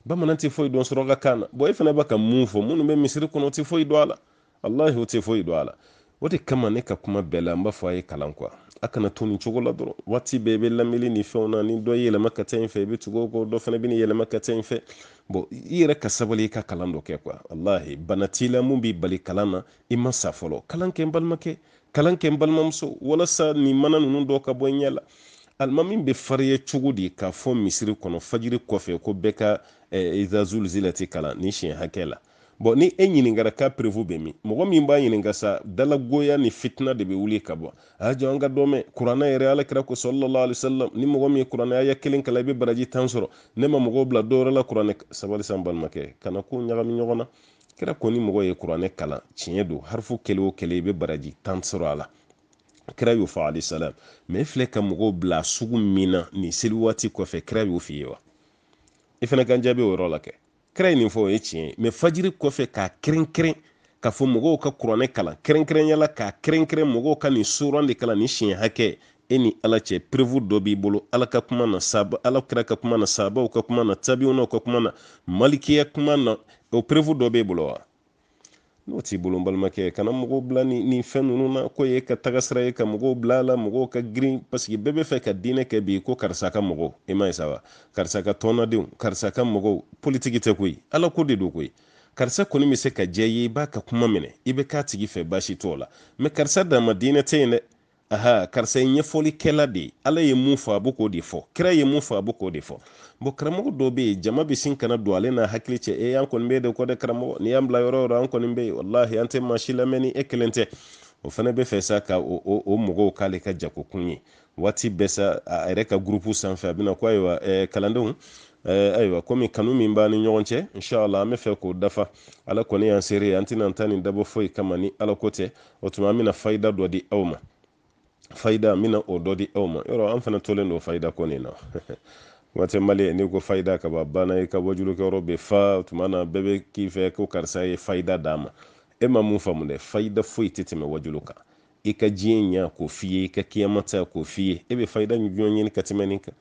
bamanan tɛ foyi dɔn suraka kan na bɔn e fana bɛ ka mun fɔ minnu bɛ misiri kɔnɔ o tɛ foyi dɔn a la walahi o tɛ foyi dɔn a la o de kama ne ka kuma bɛɛ la n b'a fɔ a ye kalan kuwa a kana to nin cogo la dɔrɔn waati bɛɛ i bɛ lamɛli ni fɛnw na ni dɔ y'i yɛlɛma ka taa in fɛ i bɛ tugu o kɔ dɔ fana bɛ n'i yɛlɛma ka taa in fɛ bɔn i yɛrɛ ka sabali i ka kalan dɔ kɛ kuwa walahi bana t'i la mun b'i bali kalan na i ma sa fɔlɔ kalan kɛ n balimakɛ kalan kɛ n balimamuso walasa nin mana ninnu dɔ ka bɔ i ɲɛ la alimami bɛ farinya cogo di k'a fɔ misiri kɔnɔ fajiri kɔfɛ ko bɛɛ ka iza zulzilati kalan nin siɲɛ hakɛ la bɔn ni e ɲininkara k'a perefu bɛ min mɔgɔ min b'a ɲininka sa dalagoya ni fitina de bɛ wuli ka bɔ a jɔ an ka dɔ mɛn kuranɛ yɛrɛ ala kira ko sallallahu alaihi wasallam ni mɔgɔ min ye kuranɛ aya kelen kalan i bɛ baraji tan sɔrɔ ne ma mɔgɔw bila dɔwɛrɛ la kuranɛ sabali sa n balimakɛ kana ko ɲagami ɲɔgɔn na kira ko ni mɔgɔ ye kuranɛ kalan tiɲɛ don harifu kelen o kelen i bɛ baraji tan sɔrɔ a la kira y'o fɔ alayhi salam mɛ e filɛ ka mɔgɔw bila sugu min na nin seli waati kɔfɛ kira y'o f'i ye wa i fana ka n jaabi o yɔrɔ la kɛ kira ye nin fɔ o ye tiɲɛ ye mɛ fajiri kɔfɛ k'a kɛrɛnkɛrɛn k'a fɔ mɔgɔw ka kuranɛ kalan kɛrɛnkɛrɛnya la k'a kɛrɛnkɛrɛn mɔgɔw ka nin suran de kalan nin siɲɛ hakɛ e ni ala cɛ perewu dɔ b'i bolo ala ka kuma na saba ala kira ka kuma na sahabaw ka kuma na tabiwunaw ka kuma na malikiya kuma na o perewu dɔ b'e bolo wa n'o t'i bolo n balimakɛ kana mɔgɔw bila ni nin fɛn ninnu na k'o y'i ka tagasira ye ka mɔgɔw bila a la mɔgɔw ka girin paseke bɛɛ b'a fɛ ka diinɛ kɛ bi ko karisa ka mɔgɔw i m'a ye sa wa karisa ka tɔnnadenw karisa ka mɔgɔw politiki tɛ koyi ala ko de don koyi karisa kɔni bɛ se ka diya i ye i b'a ka kuma minɛ i bɛ k'a tigi fɛ baasi t'o la mɛ karisa dama diinɛ tɛ yen dɛ aha karisa ye ɲɛfɔlikɛla de ye ala ye mun fɔ a bɛ k'o de fɔ kira ye mun fɔ a bɛ k'o de fɔ bɔn karamɔgɔ dɔw bɛ yen jama bɛ sin ka na don ale n'a hakili cɛ e an kɔni b'e de kɔ dɛ karamɔgɔ n'i y'an bila yɔrɔ yɔrɔ an kɔni bɛ yen walahi an tɛ maa si lamɛn ni e kelen tɛ o fana bɛ fɛ sa ka o, o, o mɔgɔw k'ale ka jagokun ye waati bɛɛ sa a yɛrɛ ka gurupu sanfɛ a bɛna ko ayiwa eh, kalandenw eh, ayiwa komi kanu min b'an ni ɲɔgɔn cɛ inshallah an bɛ fɛ k'o dafa ala kɔni y'an seere an tɛna an ta nin dabɔ foyi kama ni ala ko tɛ o tuma an bɛna fayida dɔ di aw ma fayida an bɛna o dɔ di aw ma yɔrɔ an fana tolen don fayida ko nin na waati mali n'i ko fayida kaban banna i ka wajulukɛyɔrɔ bɛ fa tuma na bɛɛ bɛ k'i fɛ ko karisa ye fayida d'a ma e ma mun faamu dɛ fayida foyi tɛ tɛmɛ wajulu kan i ka diɲɛ ɲɛ k'o f'i ye i ka kiyama ta k'o f'i ye e bɛ fayida jumɛn ɲini ka tɛmɛ nin kan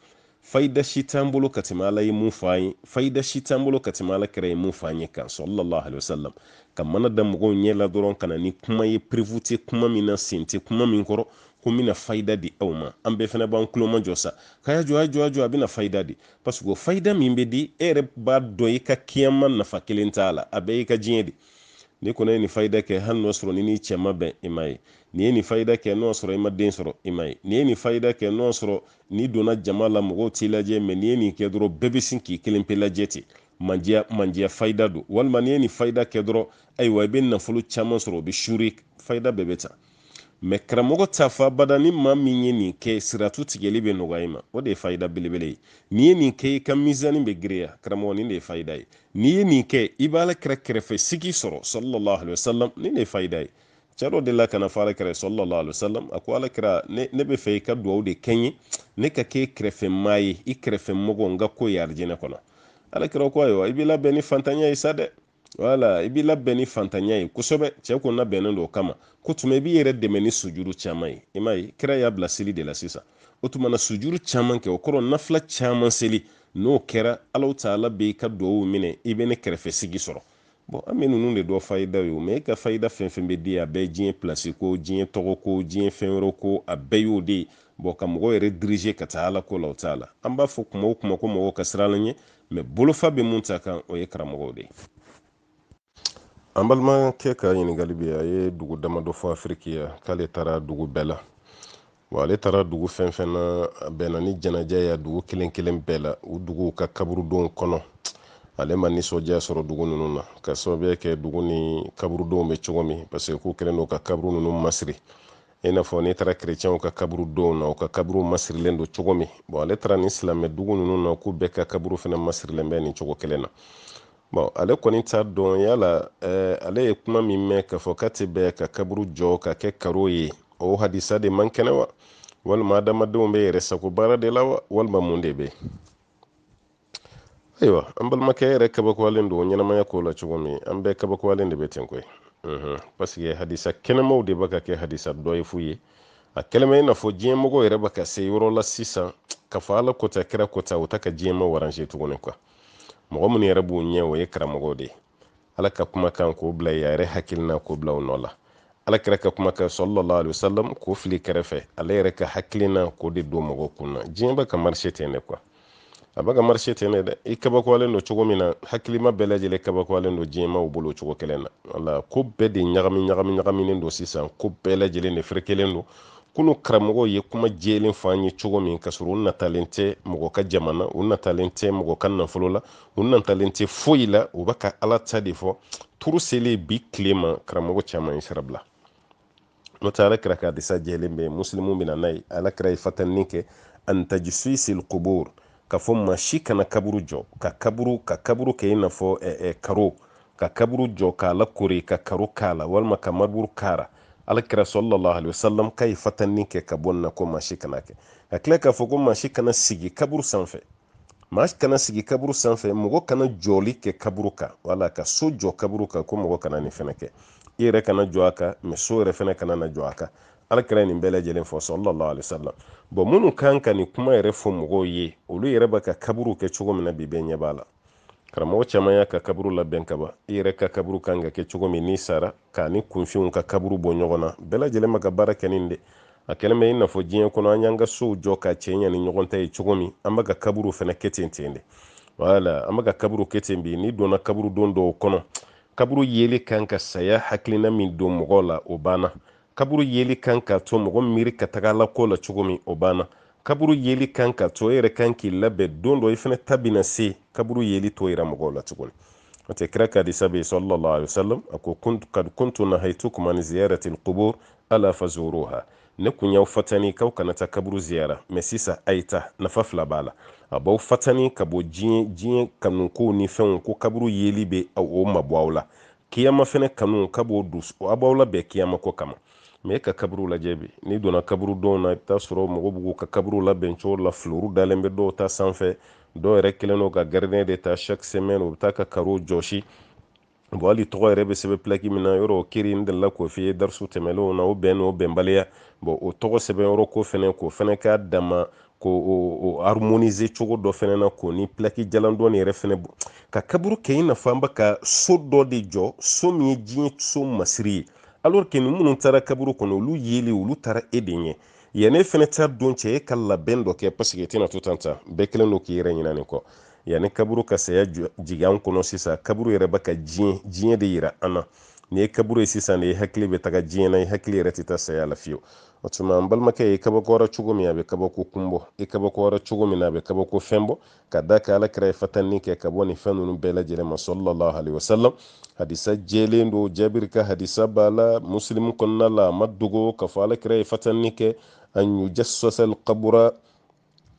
fayida si t'an bolo ka tɛmɛ ala ye mun fɔ an ye fayida si t'an bolo ka tɛmɛ alakira ye mun fɔ an ye kan sallallahu alaihi wasallam ka mana da mɔgɔw ɲɛ la dɔrɔn ka na ni kuma ye preuve tɛ kuma min na sen tɛ kuma min kɔrɔ ko n bɛna fayida di aw ma an bɛɛ fana b'an tulo majɔ sa k'a y'a jɔ a jɔ a jɔ a bɛna fayida di parce que o fayida min bɛ di e yɛrɛ b'a dɔn i ka kiyama nafa kelen t'a la a bɛɛ y'i ka diɲɛ de ni kɔnɔ ye nin fayida kɛ hali n'o sɔrɔ n'i ni cɛ ma bɛn i ma ye n'i ye nin fayida kɛ n'o sɔrɔ i ma den sɔrɔ i ma ye n'i ye nin fayida kɛ n'o sɔrɔ n'i donna jama la mɔgɔw t'i lajɛ mɛ n'i ye nin kɛ dɔrɔn bɛɛ bɛ sin k'i kelen pe lajɛ ten mandiya mandiya fayida don walima n'i ye nin fayida kɛ dɔrɔn ayiwa i bɛ nafolo caman sɔrɔ o bɛ sure fayida bɛɛ bɛ ta mɛ karamɔgɔ t'a fɔ abada ni maa min ye nin kɛ siratu tigɛli bɛ nɔgɔya i ma o de ye fayida belebele ye n'i ye nin kɛ i ka mizani bɛ giriya karamɔgɔ nin de ye fayida ye n'i ye nin kɛ i b'alakira kɛrɛfɛ sigi sɔrɔ sallallahu alaihi wasallam nin de ye fayida ye cɛ dɔ delila ka n'a fɔ alakira sallallahu alaihi wasallam a ko alakira ne, ne bɛ fɛ i ka dugawu de kɛ n ye ne ka k'i kɛrɛfɛ maa ye i kɛrɛfɛ mɔgɔ n ka k'o ye arijinɛ kɔnɔ alakira ko ayiwa i b'i labɛn ni fantanya ye sa dɛ wala i b'i labɛn ni fantanya ye kosɛbɛ cɛ ko labɛnnen don o kama k'o tuma i b'i yɛrɛ dɛmɛ ni sujuru caman ye i m'a ye kira y'a bila seli de la sisan o tuma na sujuru caman kɛ o kɔrɔ nafila caman seli n'o kɛra alahu taala bɛ i ka dugawu minɛ i bɛ ne kɛrɛfɛ sigi sɔrɔ bɔn an bɛ ninnu de dɔn fayida ye o mɛ e ka fayida fɛn fɛn bɛ di a bɛɛ diɲɛ pilasi ko diɲɛ tɔgɔ ko diɲɛ fɛn wɛrɛ ko a bɛɛ y'o de ye bɔn ka mɔgɔ yɛrɛ dirize ka taa ala ko la o t'a la an b'a fɔ kuma o kuma ko mɔgɔw ka siran ala ɲɛ mɛ bolofa bɛ mun ta kan o ye karamɔgɔw de ye an balimakɛ ka ɲininkali bɛ a ye dugu damadɔ fɔ afiriki yan k'ale taara dugu bɛɛ la wa ale taara dugu fɛn fɛn na a bɛnna ni janaja ye dugu kelen kelen bɛɛ la u duguw ka kaburudow kɔnɔ ale ma nisɔndiya sɔrɔ dugu ninnu na ka sababuya kɛ dugu nin kaburudow bɛ cogo min parce que k'u kɛlen don ka kaburu ninnu masiri i n'a fɔ n'i taara kerecɛnw ka kaburudow na u ka kaburuw masirilen don cogo min bɔn ale taara nin silamɛ dugu ninnu na k'u bɛɛ ka kaburu fana masirilen bɛ nin cogo kelen na bɔn ale kɔni t'a dɔn yala eh, ale ye kuma min mɛn k'a fɔ k'a tɛ bɛn ka kaburu jɔ ka kɛ karo ye o hadisa de man kɛnɛ wa walima adamadenw bɛ yɛrɛ sago baara de la wa walima mun de bɛ ayiwa an balimakɛ yɛrɛ kabakoyalen don ɲɛnamaya ko la cogo min an bɛɛ kabakoyalen de bɛ ten koyi mhm. parce que hadisa kɛnɛmaw de bɛ ka kɛ hadisa dɔ ye fu ye a kɛlen bɛ i n'a fɔ diɲɛmɔgɔ yɛrɛ bɛ ka se yɔrɔ la sisan k'a fɔ ala ko tan kira ko tan o tɛ ka diɲɛmaw arranger tuguni quoi mɔgɔ minnu yɛrɛ b'u ɲɛ o ye karamɔgɔw de ye ala ka kumakan k'o bila yen a yɛrɛ hakilina k'o bila o nɔ la ala kira ka kumakan sallallahu alaihi wasallam k'o fili kɛrɛfɛ ale yɛrɛ ka hakilina k'o de don mɔgɔw kun na diɲɛ bɛ ka marcher ten de quoi a bɛ ka marcher ten de dɛ i kabakoyalen don cogo min na hakilima bɛɛ lajɛlen kabakoyalen don diɲɛmaw bolo cogo kelen na wala ko bɛɛ de ɲagami ɲagami ɲagaminen don sisan ko bɛɛ lajɛlen de ferekelen don kunu karamɔgɔw ye kuma jɛlen fɔ an ye cogo min ka sɔrɔ u natalen tɛ mɔgɔ ka jama na u natalen tɛ mɔgɔ ka nafolo la u natalen tɛ foyi la u bɛ ka ala ta de fɔ turu selen bi tile ma karamɔgɔ caman ye sira bila n'o tɛ ala kira ka hadisa jɛlen bɛ musilimu bɛ na n'a ye ala kira ye fatanni kɛ an tajsisil qubur k'a fɔ maa si kana kaburu jɔ ka kaburu ka kaburu kɛ i n'a fɔ karo ka kaburu jɔ k'a lakori ka karo k'a la walima ka mariburu k'a la ala kira sallallahu alaihi wasallam k'a ye fatanni kɛ ka bɔ nin na ko maa si kan'a kɛ ka tila k'a fɔ ko maa si kana sigi kaburu sanfɛ maa si kana sigi kaburu sanfɛ mɔgɔ kana jɔli kɛ kaburu kan wala ka so jɔ kaburu kan ko mɔgɔ kana nin fɛnɛ kɛ i yɛrɛ kana jɔ a kan mɛ so yɛrɛ fɛnɛ kana na jɔ a kan ala kira nin bɛɛ lajɛlen fɔ sallallahu alaihi wasallam bɔn minnu kan ka nin kuma yɛrɛ fɔ mɔgɔw ye olu yɛrɛ bɛ ka kaburu kɛ cogo min na bi bɛɛ ɲɛ b'a la karamɔgɔ caman y'a ka kaburu labɛn kaban i yɛrɛ ka kaburu kan ka kɛ cogo min n'i sara k'a ni kunfinw ka kaburu bɔ ɲɔgɔn na bɛɛ lajɛlen bɛ ka baara kɛ nin de a kɛlen bɛ i n'a fɔ diɲɛ kɔnɔ an y'an ka sow jɔ ka cɛɲa ni ɲɔgɔn ta ye cogo min an bɛ ka kaburu fɛnɛ kɛ ten ten de wala an bɛ ka kaburu kɛ ten bi n'i donna kaburudo dɔw kɔnɔ kaburu yeli kan ka saya hakilina min don mɔgɔw la o banna kaburu yeli kan ka to mɔgɔ miiri ka taga ala ko la cogo min o banna kaburu yeli kan ka to e yɛrɛ kan k'i labɛn don dɔ i fɛnɛ ta bɛna se kaburu yeli t'o yira mɔgɔw la tuguni o tɛ kira ka hadisa bɛ sallallahu alaihi wasallam a ko kad kuntu nahaytukum an ziyarati alqubur ala fazuruha ne kun y'aw fatani k'aw kana taa kaburu ziyara mɛ sisan a ye taa nafa fila b'a la a b'aw fatani ka bɔ diɲɛ kanukow ni fɛnw ko kaburu yeli bɛ o mabɔ aw la kiyama fɛnɛ kanu ka b'o dusu a b'aw labɛn kiyama ko kama mɛ e ka kaburu lajɛ bi n'i donna kaburudow na i bɛ taa sɔrɔ mɔgɔw b'u ka kaburu labɛn cogo la filuru dalen bɛ dɔw ta sanfɛ dɔw yɛrɛ kɛlen don ka gardien de ta chaque semaine u bɛ taa ka karo jɔsi bon hali tɔgɔ yɛrɛ bɛ sɛbɛn pilaki min na yɔrɔ o kiri n delila k'o f'i ye darisu tɛmɛlenw na o bɛn n'o bɛnbaliya bon o tɔgɔ sɛbɛn yɔrɔ ko fɛnɛ k'o fɛnɛ k'a dama ko o harmoniser cogo dɔ fɛnɛ na k'o ni plaki jalan dɔɔni yɛrɛ fɛnɛ bɔ ka kaburu kɛ i n'a fɔ an bɛ ka so dɔ de jɔ so min ye diɲɛ so masiri ye alors que ni minnu taara kaburu kɔnɔ olu yeli olu taara e de ɲɛ yanni e fɛnɛ ta don cɛ e ka labɛn dɔ kɛ parce que e tɛna to tan tan bɛɛ kelen don k'i yɛrɛ ɲina nin kɔ yanni kaburu ka saya jigin an kɔnɔ sisan kaburu yɛrɛ bɛ ka diɲɛ diɲɛ de yira an na n'i ye kaburu ye sisan de i hakili bɛ taga diɲɛ na i hakili yɛrɛ tɛ taa saya la fiyewu o tuma n balimakɛ i kabakoyara cogo min a bɛ kabako kun bɔ i kabakoyara cogo min na a bɛ kabako fɛn bɔ ka d'a kan ala kira ye fatanni kɛ ka bɔ nin fɛn ninnu bɛɛ lajɛlen ma salalahu alaihi wasalam hadisa jɛlen don jabiri ka hadisa b'a la musilimu kɔnɔna la a ma dogo k'a fɔ ala kira ye fatanni kɛ an yujasasal kabura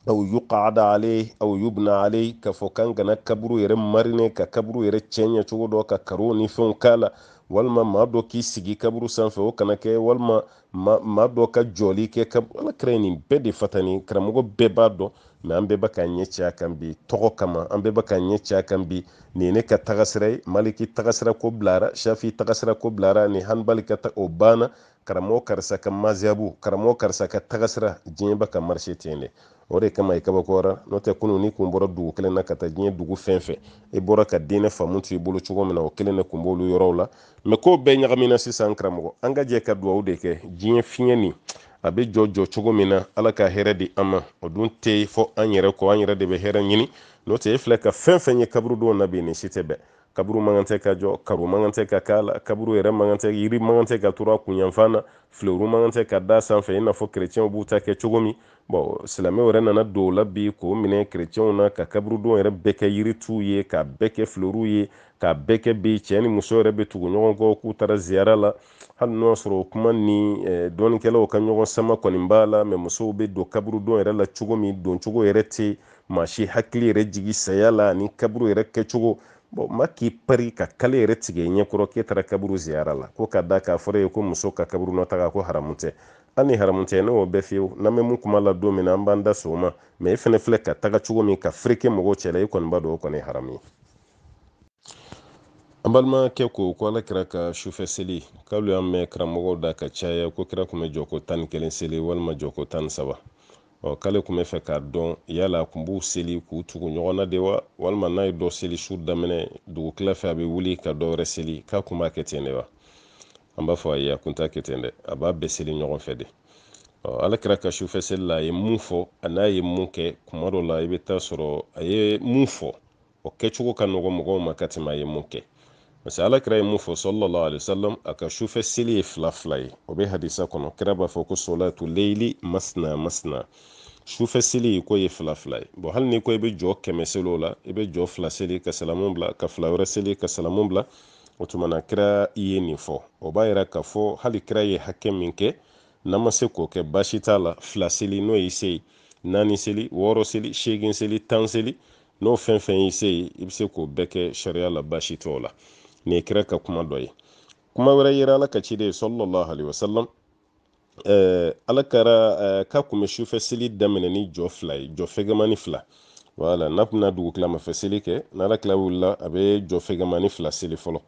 aw yuqada alaihi aw yubna alaihi k'a fɔ k'an kana kaburu yɛrɛ marine ka kaburu yɛrɛ cɛɲɛ cogo dɔ ka karow ni fɛnw k'a la walima maa dɔ k'i sigi kaburu sanfɛ o kana kɛ walima maa dɔ ka jɔli kɛ kaburu ala kira ye nin bɛɛ de fatani karamɔgɔ bɛɛ b'a dɔn mɛ an bɛɛ bɛ k'an ɲɛ ci a kan bi tɔgɔ kama an bɛɛ bɛ k'an ɲɛ ci a kan bi nin ye ne ka tagasira ye maliki tagasira ko bilara shafi tagasira ko bilara ni hanbali ka ta o banna karamɔgɔ karisa ka mazihabu karamɔgɔ karisa ka tagasira diɲɛ bɛ ka marcher ten dɛ o de kama i kabakoyara n'o tɛ kunun n'i kun bɔra dugu kelen na ka taa diɲɛ dugu fɛn fɛn i bɔra ka diinɛ faamu to i bolo cogo min na o kelen de kun b'olu yɔrɔw la mɛ ko bɛɛ ɲagamina sisan karamɔgɔ an ka jɛ ka duwawu de kɛ diɲɛ fiɲɛ nin a bɛ jɔ jɔ cogo min na ala ka hɛrɛ di an ma o dun tɛ fɔ an yɛrɛ kɔ an yɛrɛ de bɛ hɛrɛ ɲini n'o tɛ e filɛ ka fɛn fɛn ye kaburudo na bi nin si tɛ bɛn kaburu man kan tɛ ka jɔ karo man kan tɛ ka k'a la kaburu yɛrɛ man kan tɛ yiri man kan tɛ ka turu a kunyanfan na filewuru man kan tɛ ka da sanfɛ i n'a fɔ kerecɛnw b'u ta kɛ cogo min bɔn silamɛw yɛrɛ nana don o la bi k'o minɛ kerecɛnw na ka kaburudo yɛrɛ bɛɛ kɛ yirituw ye k'a bɛɛ kɛ filewuruw ye k'a bɛɛ kɛ bi cɛ ni muso yɛrɛ bɛ tugu ɲɔgɔn kɔ k'u taara ziyara la hali n'o y'a sɔrɔ o kuma nin dɔnnikɛlaw ka ɲɔgɔn sama kɔni b'a la mɛ musow bɛ don kaburudo yɛrɛ la cogo min doncogo yɛrɛ tɛ maa si hakili yɛrɛ jigi saya la ani kaburu yɛrɛ kɛcogo bɔn maa k'i pari ka kale yɛrɛ tigɛ i ɲɛkɔrɔ k'e taara kaburu ziyara la ko ka d'a kan a fɔra i ye ko muso ka kaburudo taga ko haramu tɛ hali ni haramu tɛ ne y'o bɛɛ fiyewu n'an bɛ mun kuma la don min na an b'an da s'o ma mɛ e fɛnɛ filɛ ka taga cogo min ka fereke mɔgɔw cɛla e kɔni b'a dɔn o kɔni ye haramu ye an balimakɛ ko ko ala kira ka sufɛ seli k'alu y'a mɛn karamɔgɔw da ka caya ko kira kun bɛ jɔ ko tan ni kelen seli walima jɔ ko tan ni saba ɔ k'ale kun bɛ fɛ k'a dɔn yala a kun b'u seli k'u tugu ɲɔgɔn na de wa walima n'a ye dɔ seli su daminɛ dugu tila fɛ a bɛ wuli ka dɔ wɛrɛ seli k'a kun b'a kɛ ten de wa an b'a fɔ ayi a kun t'a kɛ ten dɛ a b'a bɛɛ seli ɲɔgɔn fɛ de ɔ ala kira ka sufɛ seli la a ye mun fɔ an'a ye mun kɛ kuma dɔ la i bɛ t'a sɔrɔ a ye mun fɔ o kɛcogo ka nɔgɔ mɔgɔw ma ka tɛmɛ a ye mun kɛ parce que ala kira ye mun fɔ sallallahu alaihi wasallam a ka sufɛ seli ye fila fila ye o bɛ hadisa kɔnɔ kira b'a fɔ ko solatu leili masna masna sufɛ seli ko ye fila fila ye bɔn hali ni ko i bɛ jɔ kɛmɛ seli o la i bɛ jɔ fila seli ka salamu bila ka fila wɛrɛ seli ka salamu bila o tuma na kira ye nin fɔ o b'a yira k'a fɔ hali kira ye hakɛ min kɛ n'an ma se k'o kɛ baasi t'a la fila seli n'o y'i se ye naani seli wɔɔrɔ seli seegin seli tan seli n'o fɛn fɛn y'i se ye i bɛ se k'o bɛɛ kɛ sariya la baasi t'o la nin ye kira ka kuma dɔ ye kuma wɛrɛ yera ala ka ciden sallallahu alaihi wasallam ɛɛ ala kira ɛɛ k'a kun bɛ sufɛ seli daminɛ ni jɔ fila ye jɔ fɛgɛmani fila wala n'a kun bɛna dugukilamafɛ seli kɛ n'ala kira wulila a bɛ jɔ fɛgɛmani fila seli fɔlɔ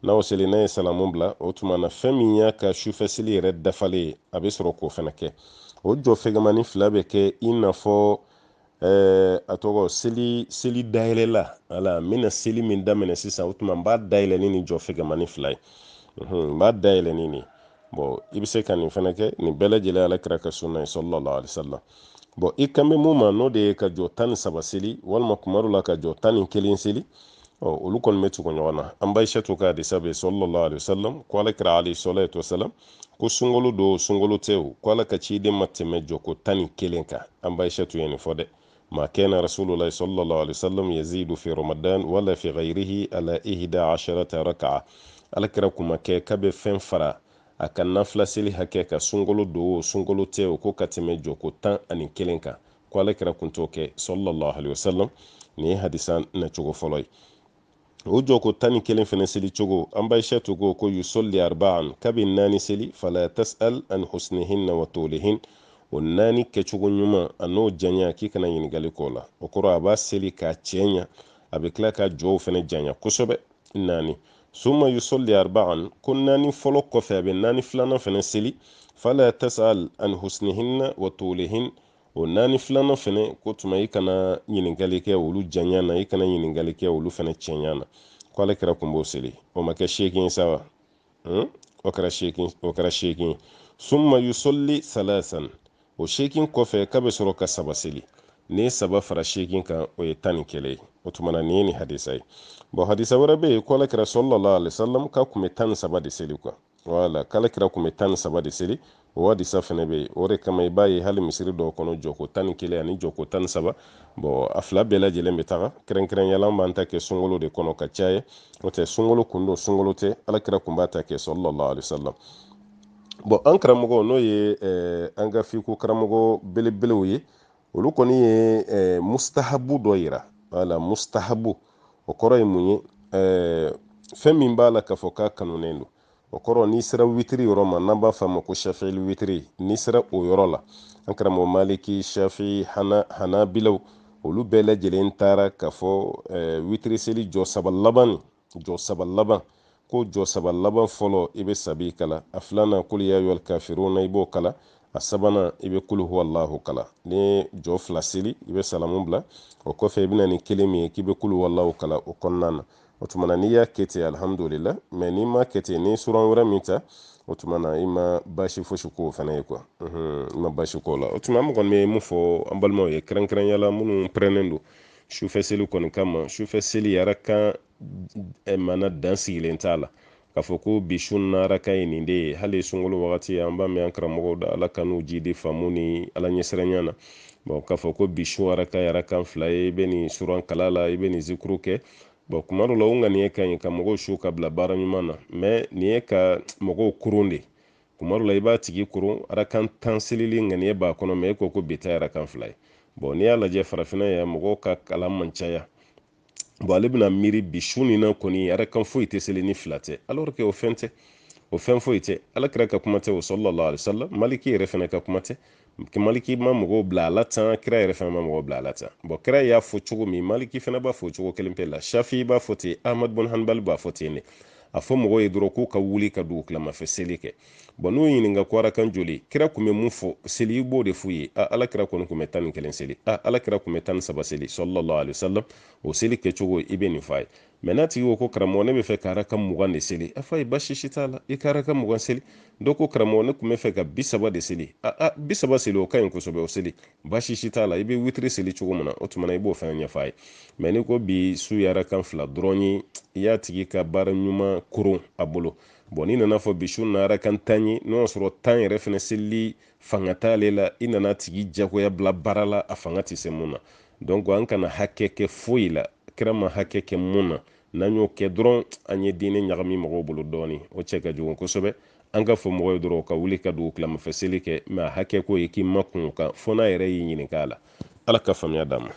n'a y'o seli n'a ye salamu bila o tuma na fɛn min y'a ka sufɛ seli yɛrɛ dafalen ye a bɛ sɔrɔ k'o fɛnɛ kɛ o jɔ fɛgɛmani fila bɛ kɛ i n'a fɔ ɛɛ a tɔgɔ seli seli dayɛlɛlan ala n bɛna seli min daminɛ sisan o tuma n b'a dayɛlɛ ni nin jɔ fɛgɛmani fila ye n b'a dayɛlɛ ni nin bɔn i bɛ se ka nin fɛnɛ kɛ nin bɛɛ lajɛlen ala kira ka sunna ye sallallahu alaihi wasallam bɔn i kan bɛ mun ma n'o de ye ka jɔ tan ni saba seli walima kuma dɔ la ka jɔ tan ni kelen seli ɔ olu kɔni bɛ tugu ɲɔgɔn na an ba aishatu ka hadisa bɛ sallallahu alaihi wasallam ko ala kira alaihi salatu wasalam ko sunkalo don o sunkalo tɛ o ko ala ka ciden ma tɛmɛ jɔko tan ni kelen kan an ba aishatu ye nin fɔ dɛ ma kana rasulullahi sallallahu alaihi wasallam yazidu fi ramadan wala fi ghayrihi ala ihda asharata raka'a ala kira kun ma kɛ k'a bɛ fɛn fara a ka nafila seli hakɛ kan sunkalo don o sunkalo tɛ o ko ka tɛmɛ jɔko tan ani kelen kan ko ala kira kun t'o kɛ sallallahu alaihi wasallam nin ye hadisa nacogo fɔlɔ ye o jɔko tan ni kelen fɛnɛ seli cogo an ba aishatu ko ko yusolli arbaan k'a bɛ naani seli fala tasal an husnihinna wa tolihin o naani kɛcogo ɲuman an'o janya k'i kana ɲininkali k'o la o kɔrɔ a b'a seli k'a cɛɲa a bɛ tila ka jɔw fɛnɛ janya kosɛbɛ naani summa yusolli arbaan ko naani fɔlɔ kɔfɛ a bɛ naani filanan fɛnɛ seli fala tasal an husnihinna wa tolihin o naani filanan fɛnɛ ko tuma i kana ɲininkali kɛ olu janya na i kana ɲininkali kɛ olu fɛnɛ cɛnya na ko ala kira kun b'o seli o ma kɛ seegin sa wa hmm? o kɛra seegin o kɛra seegin summa yusolli salasan o seegin kɔfɛ k'a bɛ sɔrɔ ka saba seli n'i ye saba fara seegin kan o ye tan ni kelen ye o tuma na nin ye nin hadisa ye bɔn hadisa wɛrɛ bɛ yen ko ala kira sallallahu alaihi wasallam k'a kun bɛ tan ni saba de seli quoi wala k'ala kira kun bɛ tan ni saba de seli o hadisa fɛnɛ bɛ yen o de kama i b'a ye hali misiri dɔw kɔnɔ jɔko tan ni kelen ani jɔko tan ni saba bɔn a fila bɛɛ lajɛlen bɛ taga kɛrɛnkɛrɛnya la an b'an ta kɛ sunkalo de kɔnɔ ka caya n'o tɛ sunkalo kun don sunkalo tɛ ala kira kun b'a ta kɛ sallallahu alaihi wasallam bɔn an karamɔgɔ n'o ye eh, an ka fiko karamɔgɔ belebelew ye olu kɔni ye eh, mustahabu dɔ yira wala mustahabu o kɔrɔ ye mun ye eh, fɛn min b'a la k'a fɔ k'a kanunen don o kɔrɔ n'i sera witiri yɔrɔ ma n'an b'a f'a ma ko shafili witiri n'i sera o yɔrɔ la an karamɔgɔ maliki shafi hana hanabilaw olu bɛɛ lajɛlen taara k'a fɔ eh, witiri seli jɔ saba laban nin jɔ saba laban ko jɔ saba laban fɔlɔ i bɛ sabi kalan a filanan kul ya ayyuhal kafiruna i b'o kalan a sabanan i bɛ kulu huwa allahu kalan n'i ye jɔ fila seli i bɛ salamu bila o kɔfɛ i bɛ na ni kelen min ye k'i bɛ kulu huwa allahu kalan o kɔnɔna na o tuma na n'i y'a kɛ ten alihamudulila mais n'i m'a kɛ ten n'i suran wɛrɛ min ta o tuma na i ma baasi fosi k'o fana ye quoi i ma baasi k'o la o tuma an kɔni bɛ mun fɔ an balimaw ye kɛrɛnkɛrɛnya la minnu pɛrɛnnen don sufɛ seli kɔni kama sufɛ seli arakan eh, mana dan sigilen t'a la k'a fɔ ko bi su na arakan ye nin de ye hali sunkalo wagati an b'a mɛn an karamɔgɔw da ala k'an n'u jidi faamu ni ala ɲɛsiranya na bon k'a fɔ ko bi su arakan ye arakan fila ye i bɛ nin suran kalan a la i bɛ nin zikuru kɛ bon kuma dɔ la o ŋaniya ka ɲi ka mɔgɔw su ka bila baara ɲuman na mais nin ye ka mɔgɔw koron de kuma dɔ la i b'a tigi koron arakan tan selili ŋaniya b'a kɔnɔ mais e ko ko bi ta arakan fila ye bon n'i y'a lajɛ farafinna yan mɔgɔw ka kalan ma caya bon ale bɛna miiri bi su nin na kɔni arakan foyi tɛ seli ni fila tɛ alors que o fɛn tɛ o fɛn foyi tɛ alakira ka kuma tɛ o sallallahu alaihi wasallam maliki yɛrɛ fana ka kuma tɛ maliki ma mɔgɔw bila a la tan kira yɛrɛ fana ma mɔgɔw bila a la tan bon kira y'a fɔ cogo min maliki fana b'a fɔ cogo kelen pe la shafi b'a fɔ ten ahmad bun hanbal b'a fɔ ten de a fɔ mɔgɔw ye dɔrɔn k'u ka wuli ka dugu kilamafɛ seli kɛ bon n'u ɲininka ko arakan joli kira kun bɛ mun fɔ seli i b'o de f'u ye a ala kira kɔni kun bɛ tan ni kelen seli a ala kira kun bɛ tan ni saba seli sallallahu alaihi wasallam o seli kɛcogo i bɛ nin f'a ye mais n'a tigi ko ko karamɔgɔ ne b'a fɛ ka arakan mugan de seli a f'a ye basi si t'a la i ka arakan mugan seli dɔ ko karamɔgɔ ne tun b'a fɛ ka bi saba de seli a a bi saba seli o ka ɲi kosɛbɛ o seli basi si t'a la i bɛ witiri seli cogo min na o tuma na i b'o fɛnɛ ɲɛfɔ a ye mais n'i ko bi su ye arakan fila dɔrɔn ye i y'a tigi ka baara ɲuman koron a bolo bon n'i nan'a fɔ bi su na arakan tan ye n'o y'a sɔrɔ tan yɛrɛ fɛnɛ selili fanga t'ale la i nan'a tigi jagoya bila baara la a fanga tɛ se mun na donc an kana hakɛ kɛ foyi la kira ma hakɛ kɛ mun na n'an y'o kɛ dɔrɔn an ye diinɛ ɲagami mɔgɔw bolo dɔɔni o cɛ ka jugu kosɛbɛ an k'a fɔ mɔgɔw ye dɔrɔn ka wuli ka dugu tilamafɛ seli kɛ mais a hakɛ ko i k'i makun a kan fo n'a yɛrɛ y'i ɲininka a la ala ka faamuya d'an ma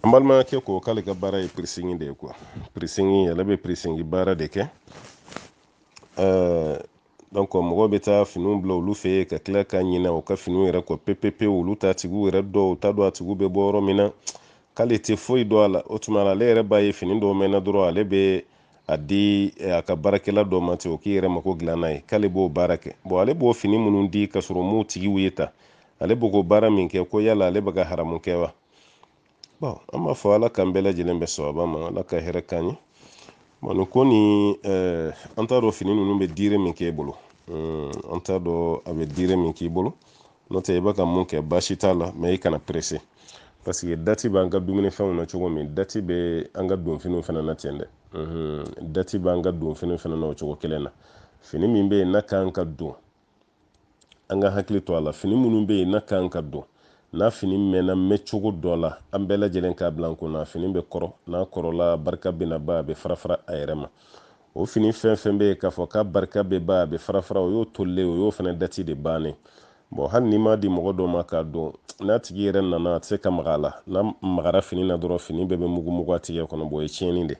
an balimakɛ ko k'ale ka baara ye pirisingi de ye quoi pirisingi ale bɛ pirisingi baara de kɛ donc mɔgɔw bɛ taa finiw bila olu fɛ yen ka tila ka ɲinɛ u ka finiw yɛrɛ kɔ pepepewu olu t'a tigiw yɛrɛ dɔn u t'a dɔn a tigiw bɛ bɔ yɔrɔ min na k'ale tɛ foyi dɔn a la o tuma ale yɛrɛ b'a ye fini dɔw mɛnna dɔrɔn ale bɛ a di eh, a ka baarakɛla dɔ ma ten o k'i yɛrɛ mako dilan n'a ye k'ale b'o baara kɛ bɔn ale b'o fini minnu di ka sɔrɔ m'u tigiw ye ta ale b'o ko baara min kɛ ko yala ale bɛ ka haramu kɛ wa bon an b'a fɔ ala k'an bɛɛ lajɛlen bɛn sawaba ma ala ka hɛrɛ k'an ye bon nin ko nin eh, an t'a dɔn fini ninnu bɛ diire min k'e bolo hmm, an t'a dɔn a bɛ diire min k'i bolo n'o tɛ i bɛ ka mun kɛ baasi t'a la mɛ i kana perese paseke dati b'an ka dumunifɛnw na cogo min dati bɛ an ka donfiniw fana na ten dɛ hmm, dati b'an ka donfiniw fana na o cogo kelen na fini min bɛ yen n'a kan ka don an ka hakili to a la fini minnu bɛ yen n'a kan ka don n'a fini mɛnna mɛn cogo dɔ la an bɛɛ lajɛlen k'a bila an kun na fini bɛ kɔrɔ n'a kɔrɔla barika bɛna ban a bɛ farafara a yɛrɛ ma o fini fɛn fɛn bɛ yen k'a fɔ k'a barika bɛ ban a bɛ farafara o y'o tolilen o y'o fana dati de bannen bɔn hali n'i m'a di mɔgɔ dɔ ma k'a don n'a tigi yɛrɛ nana a tɛ se ka maga a la n'a magara fini na dɔrɔn fini bɛɛ bɛ mugumugu a tigɛ kɔnɔ bɔn o ye tiɲɛni de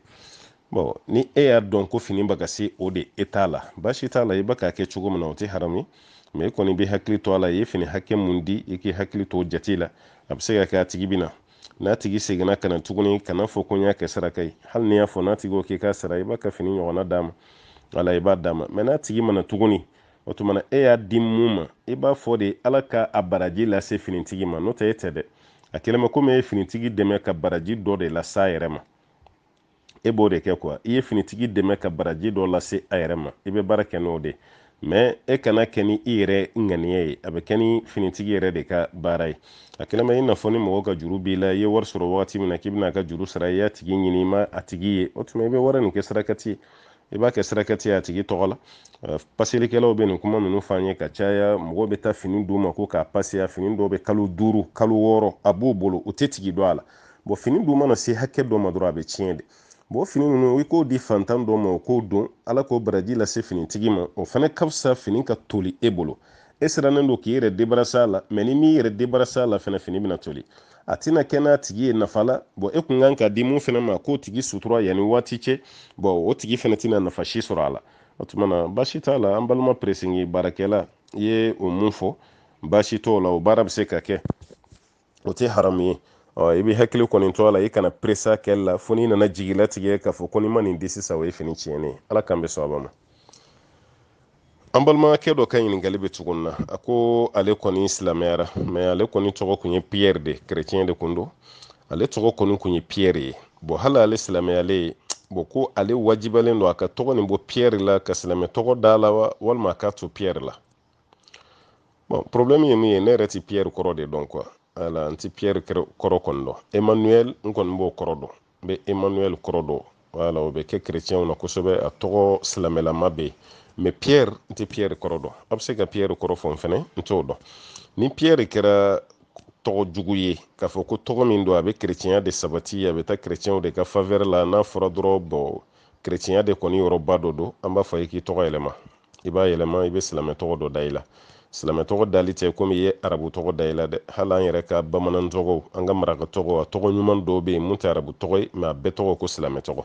bɔn ni e y'a dɔn ko fini bɛ ka se o de eta la baasi t'a la i bɛ k'a kɛ cogo min na o tɛ haramu ye mɛ i kɔni bɛ hakili to a la i ye fini hakɛ mun di i k'i hakili to o jate la a bɛ se ka kɛ a tigi bɛ na n'a tigi seginna ka na tuguni kana fɔ ko n y'a kɛ saraka ye hali n'i y'a fɔ n'a tigi ko k'i k'a sara i b'a ka fini ɲɔgɔnna d'a ma wala i b'a d'a ma mɛ n'a tigi ma na tuguni o tuma na e y'a di mun ma i b'a fɔ de ala ka a baraji lase finitigi ma n'o tɛ e tɛ dɛ a kɛlen bɛ komi e ye finitigi dɛmɛ ka baraji dɔ de lase a yɛrɛ ma e b'o de kɛ kuwa i ye finitigi dɛmɛ ka baraji dɔ lase a yɛrɛ ma i bɛ baara kɛ n'o de mɛ e kana kɛ ni i yɛrɛ ŋaniya ye a bɛ kɛ ni finitigi yɛrɛ de ka baara ye a kɛlen bɛ i n'a fɔ ni mɔgɔ ka juru b'i la i ye wari sɔrɔ wagati min na k'i bɛna a ka juru sara i y'a tigi ɲini i ma a tigi ye o tuma i bɛ wari nin kɛ sarakati ye i b'a kɛ sarakati ye a tigi tɔgɔ la paselikɛlaw bɛ nin kuma ninnu fɔ an ye ka caya mɔgɔw bɛ taa fini d'u ma ko k'a paseya fini dɔw bɛ kalo duuru kalo wɔɔrɔ a b'u bolo u tɛ tigi dɔn a la bɔn fini dun mana se hakɛ dɔ ma dɔrɔn a bɛ tiɲɛ de bɔn fini ninnu i k'o di fantan dɔ ma o k'o don ala k'o baraji lase finitigi ma o fana ka fisa fini ka toli e bolo e sirannen don k'i yɛrɛ debarasa a la mɛ n'i m'i yɛrɛ debarasa a la fana fini bɛna toli a tɛna kɛ n'a tigi ye nafa la bɔn e kun kan k'a di mun fana ma k'o tigi sutura yanni waati cɛ bɔn o tigi fana tɛna nafa si sɔrɔ a la o tuma na baasi t'a la an balima peresingi baarakɛla i ye o mun fɔ baasi t'o la o baara bɛ se ka kɛ o tɛ haramu ye ɔ i bɛ hakili kɔni to a la i kana peresa kɛli la fo n'i nana jigi latigɛ k'a fɔ ko n'i ma nin di sisan o ye fini tiɲɛnen ye ala k'an bɛ sɔn a ma an balimakɛ dɔ ka ɲininkali bɛ cogo min na a ko ale kɔni silamɛyara mais ale kɔni tɔgɔ kun ye pierre de kerecɛn de kun don ale tɔgɔ kɔni kun ye pierre ye bon hali ale silamɛyalen bon ko ale wajibalen don a ka tɔgɔ nin bɔ pierre la ka silamɛ tɔgɔ da a la wa walima a k'a to pierre la bon problème ye min ye ne yɛrɛ ti pierre kɔrɔ de dɔn quoi wala n ti pierre kɔrɔ kɔni dɔn emmanuel n kɔni b'o kɔrɔ dɔn n bɛ emmanuel kɔrɔ dɔn wala o bɛ kɛ chrétienw na kosɛbɛ a tɔgɔ silamɛlama bɛ yen mais pierre n tɛ pierre kɔrɔ dɔn a bɛ se ka pierre kɔrɔ fɔ n fɛnɛ n t'o dɔn ni pierre kɛra tɔgɔ jugu ye k'a fɔ ko tɔgɔ min don a bɛ kerecɛnya de sabati a bɛ taa kerecɛnw de ka faveur la n'a fɔra dɔrɔn bon kerecɛnya de kɔni yɔrɔba dɔ don an b'a fɔ i ye k'i tɔgɔ yɛlɛma i b'a yɛlɛma i bɛ silamɛ tɔgɔ dɔ da i la silamɛ tɔgɔ dali tɛ komi i ye arabu tɔgɔ da i la dɛ hali an yɛrɛ ka bamanan tɔgɔw an ka maraka tɔgɔw a tɔgɔ ɲuman dɔw bɛ yen mun tɛ arabu tɔgɔ ye mais a bɛɛ tɔgɔ ko silamɛ tɔgɔ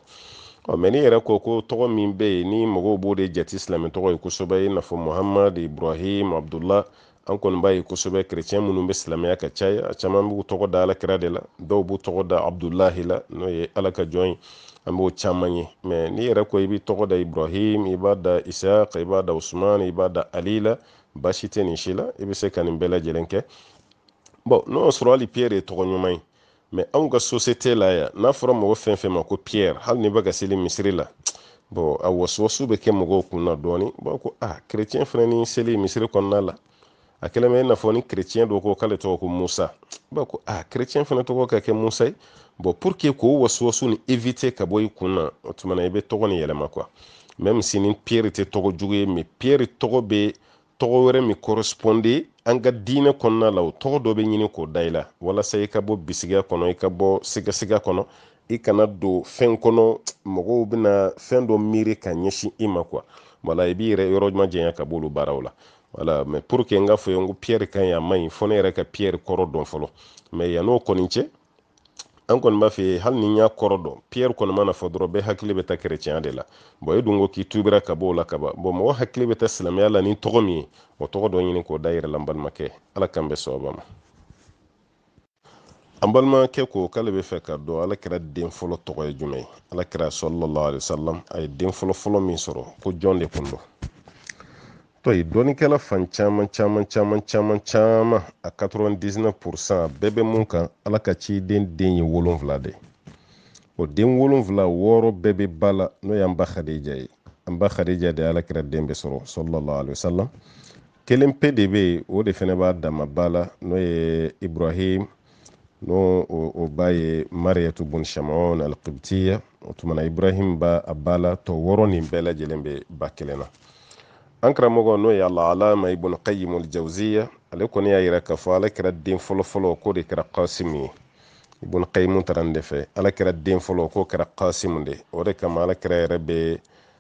ɔ mais n'i yɛrɛ ko ko tɔgɔ min bɛ yen ni mɔgɔw b'o de jate silamɛ tɔgɔ ye kosɛbɛ i n'a fɔ muhammad ibrahim abdullah an kɔni b'a ye kosɛbɛ kerecɛn minnu bɛ silamɛya ka caya a caman b'u tɔgɔ da alakira de la dɔw b'u tɔgɔ da abudulahi la n'o ye ala ka jɔn ye an b'o caman ye mais n'i yɛrɛ ko i b'i tɔgɔ da ibrahim i b'a da isaq i b'a da usman i b'a da ali la baasi tɛ nin si la i bɛ se ka nin bɛɛ lajɛlen kɛ bon n'o y'a sɔrɔ hali pierre ye tɔgɔ ɲuman ye mais anw ka société la yan n'a fɔra mɔgɔ fɛn fɛn ma ko pierre hali n'i bɛ ka seli misiri la bon a wasuwasuw bɛ kɛ mɔgɔw kun na dɔɔni b'a ko a ah, kerecɛn fana ni seli misiri kɔnɔna la a kɛlen bɛ i n'a fɔ ni kerecɛn dɔ ko k'ale tɔgɔ ko musa b'a ko a ah, kerecɛn fana tɔgɔ ka kɛ musa ye bon pour que k'o wasuwasuw nin éviter ka bɔ i kun na o tuma na i bɛ tɔgɔ nin yɛlɛma quoi même si ni pierre tɛ tɔgɔ jugu ye mais pierre tɔgɔ bɛ tɔgɔ wɛrɛ min corresponde an ka diinɛ kɔnɔna la o tɔgɔ dɔ bɛ ɲini k'o da i la walasa i ka bɔ bisigiya kɔnɔ i ka bɔ sigasiga kɔnɔ i kana don fɛn kɔnɔ mɔgɔw bɛna fɛn dɔ miiri ka ɲɛsin i ma quoi wala i b'i yɛrɛ yɔrɔ majanya ka b'olu baaraw la wala mais pour que n k'a fɔ i ye n ko pierre ka ɲi a man ɲi fo ne yɛrɛ ka pierre kɔrɔ dɔn fɔlɔ mais yann'o kɔni cɛ an kɔni b'a fɛ hali ni n y'a kɔrɔ dɔn pierre kɔni mana fɔ dɔrɔn bɛɛ hakili bɛ taa kerecɛnya de la bon e dun ko k'i tubira ka b'o la ka ban bon mɔgɔ hakili bɛ taa silamɛya la ni tɔgɔ min ye o tɔgɔ dɔ ɲini k'o da i yɛrɛ la n balimakɛ ala k'an bɛn sawaba ma an balimakɛ ko k'ale b'a fɛ k'a dɔn alakira den fɔlɔ tɔgɔ ye jumɛn ye alakira sallallahu alaihi wasallam a ye den fɔlɔ fɔlɔ min sɔrɔ ko jɔn de kun don tɔ ye dɔnnikɛla fan caman caman caman caman caman a 99 pourcent a bɛɛ bɛ mun kan ala ka ciden den ye wolonfila de o den wolonfila wɔɔrɔ bɛɛ bɛ ba la n'o y'an ba khadija ye an ba khadija de ala kira den bɛɛ sɔrɔ sallallahu alaihi wasallam kelen pe de bɛ yen o de fana b'a dama ba la n'o ye ibrahim n'o o ba ye mariyatu bun shamon alqibtiya o tuma na ibrahim b'a ba la tɔ wɔɔrɔ nin bɛɛ lajɛlen bɛ ba kelen na an karamɔgɔ n'o ye alallama ibn qayyim aljawziya ale kɔni y'a yira k'a fɔ ala kira den fɔlɔfɔlɔ k'o de kɛra kasimu ye ibn qayyim taara nin de fɛ ala kira den fɔlɔ k'o kɛra kasimu de o de kama ala kira yɛrɛ bɛ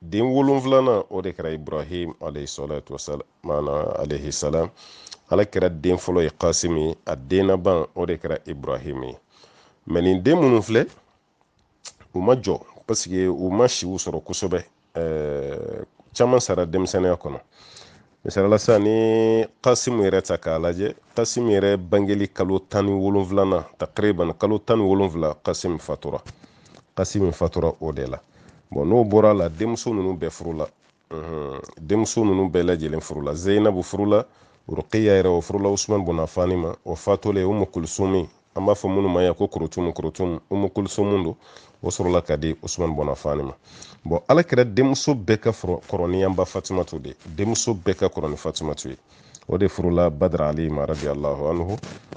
den wolonfilanan o de kɛra ibrahim alayhisalatu wasalam maana alayhisalam ala kira den fɔlɔ ye kasim ye a den laban o de kɛra ibrahim ye mɛ nin den minnu filɛ u ma jɔ pasike u ma siw sɔrɔ kosɛbɛ caman sara denmisɛnniya kɔnɔ misali la sisan n'i kasimu yɛrɛ ta k'a lajɛ kasimu yɛrɛ bangeli kalo tan ni wolonfilanan takriban kalo tan ni wolonfila kasimu fatura kasimu fatura o de la bɔn n'o bɔra a la denmuso ninnu bɛɛ furula denmuso ninnu bɛɛ lajɛlen furula zeyinabu furula rukiya yɛrɛ o furula usman bun afani ma o fatulen umu kulusumi an b'a fɔ minnu ma yan ko korotumu korotumu umu kulisumu don o sɔrɔla ka di usumani bun afani ma bɔn ala kira denmuso bɛɛ ka kɔrɔ ni an ba fatimatu de denmuso bɛɛ ka kɔrɔ ni fatimatu ye o de furula badara ali ma radiallahu anhu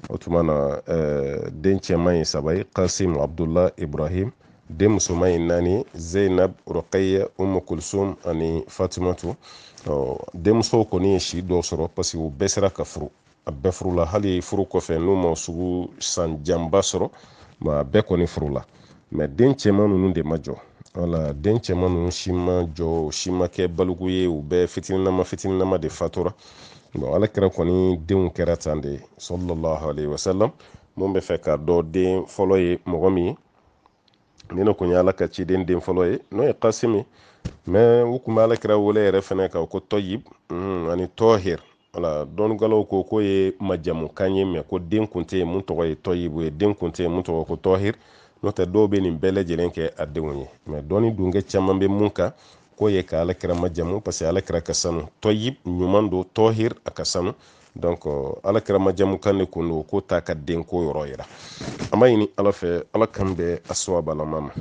o tuma na eh, den cɛman ye saba ye kasim abdullah ibrahim den musoman ye naani zeinab rokaya umu kulsum ani fatimatu denmusow kɔni ye si dɔw sɔrɔ parce que u bɛɛ sera ka furu a bɛɛ furula hali furu kɔfɛ n'u ma sugu san janba sɔrɔ mɛ a bɛɛ kɔni furula mɛ den cɛman ninnu de ma jɔ wala den cɛman ninnu si ma jɔ si ma kɛ baliku ye u bɛɛ fitininama fitininama de fatura bon ala kira kɔni denw kɛra tan de sallallahu alaihi wasallam mun b'a fɛ k'a dɔn den fɔlɔ ye mɔgɔ min ye nin de kun ye ala ka ciden den fɔlɔ ye n'o ye kasimi mɛ u kun bɛ ala kira wele yɛrɛ fɛnɛ ka ko tɔyib ani tɔhir wala dɔnnikɛlaw ko k'o ye majamukan ye mɛ ko den kun tɛ yen mun tɔgɔ ye tɔyibu ye den kun tɛ yen mun tɔgɔ ko tɔhir n'o tɛ dɔw bɛ nin bɛɛ lajɛlen kɛ a denw ye mɛ dɔnni dunkɛ caman bɛ mun kan k'o ye ka alakira majamu parce que alakira ka sanu tɔyib ɲuman don tɔhir a ka sanu donc alakira majamukan de kun don k'o t'a ka denko yɔrɔ yira an b'a ɲini ala fɛ ala k'an bɛn a sawabalama ma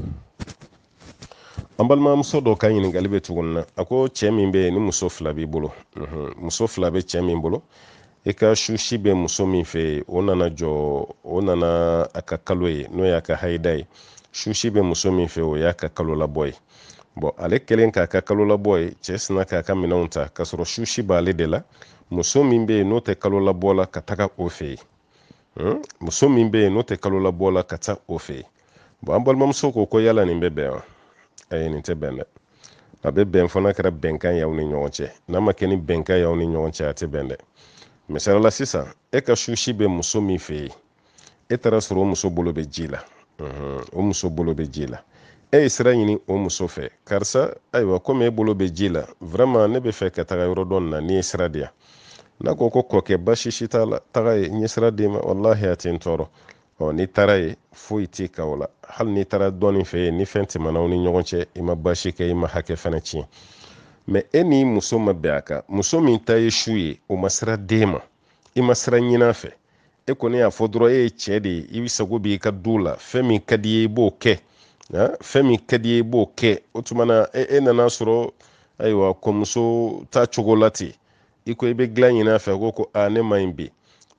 an balimamuso dɔ ka ɲininkali bɛ tuguni na a ko cɛ min bɛ yen ni muso fila b'i bolo muso fila bɛ cɛ min bolo i ka susi bɛ muso min fɛ yen o nana jɔ o nana a ka kalo ye n'o y'a ka hayida ye susi bɛ muso min fɛ o y'a ka kalo labɔ ye bɔn ale kɛlen k'a ka kalo labɔ ye cɛ sina k'a ka minɛnw ta k'a sɔrɔ susi b'ale de la muso min bɛ yen n'o tɛ kalo labɔ la ka taga o fɛ yen hmm? muso min bɛ yen n'o tɛ kalo labɔ la ka taa o fɛ yen bɔn an balimamuso ko ko yala nin bɛ bɛn wa ayi nin tɛ bɛn dɛ a bɛ bɛn fo n'a kɛra bɛnkan y'aw ni ɲɔgɔn cɛ n'a ma kɛ ni bɛnkan y'aw ni ɲɔgɔn cɛ a tɛ bɛn dɛ misali la sisan e ka susi bɛ muso min fɛ yen e taara sɔrɔ o muso bolo bɛ ji la hmm, o muso bolo bɛ ji la e ye sira ɲini o muso fɛ karisa ayiwa komi e bolo bɛ ji la vraiment ne bɛ fɛ ka taga yɔrɔ dɔ nin na n'i ye sira di yan n'a ko ko kɔkɛ basi si t'a la taga yen n ye sira d'i ma walahi a tɛ n tɔɔrɔ ɔ n'i taara yen foyi t'i kan o la hali n'i taara dɔ nin fɛ yen ni fɛn tɛmɛna aw ni ɲɔgɔn cɛ i ma basi kɛ i ma hakɛ fɛnɛ tiɲɛ mɛ e ni muso ma bɛn a kan muso min ta ye su ye o ma sira d'e ma i ma sira ɲin'a fɛ e kɔni y'a fɔ dɔrɔn e ye cɛ de ye i sago b'i ka du la fɛn min ka d'i ye i b'o kɛ fɛn min ka d'i ye i b'o kɛ o tuma na e, e nana sɔrɔ ayiwa ko muso t'a cogo la ten i ko i bɛ dilan ɲini a fɛ ko ko a ne man ɲi bi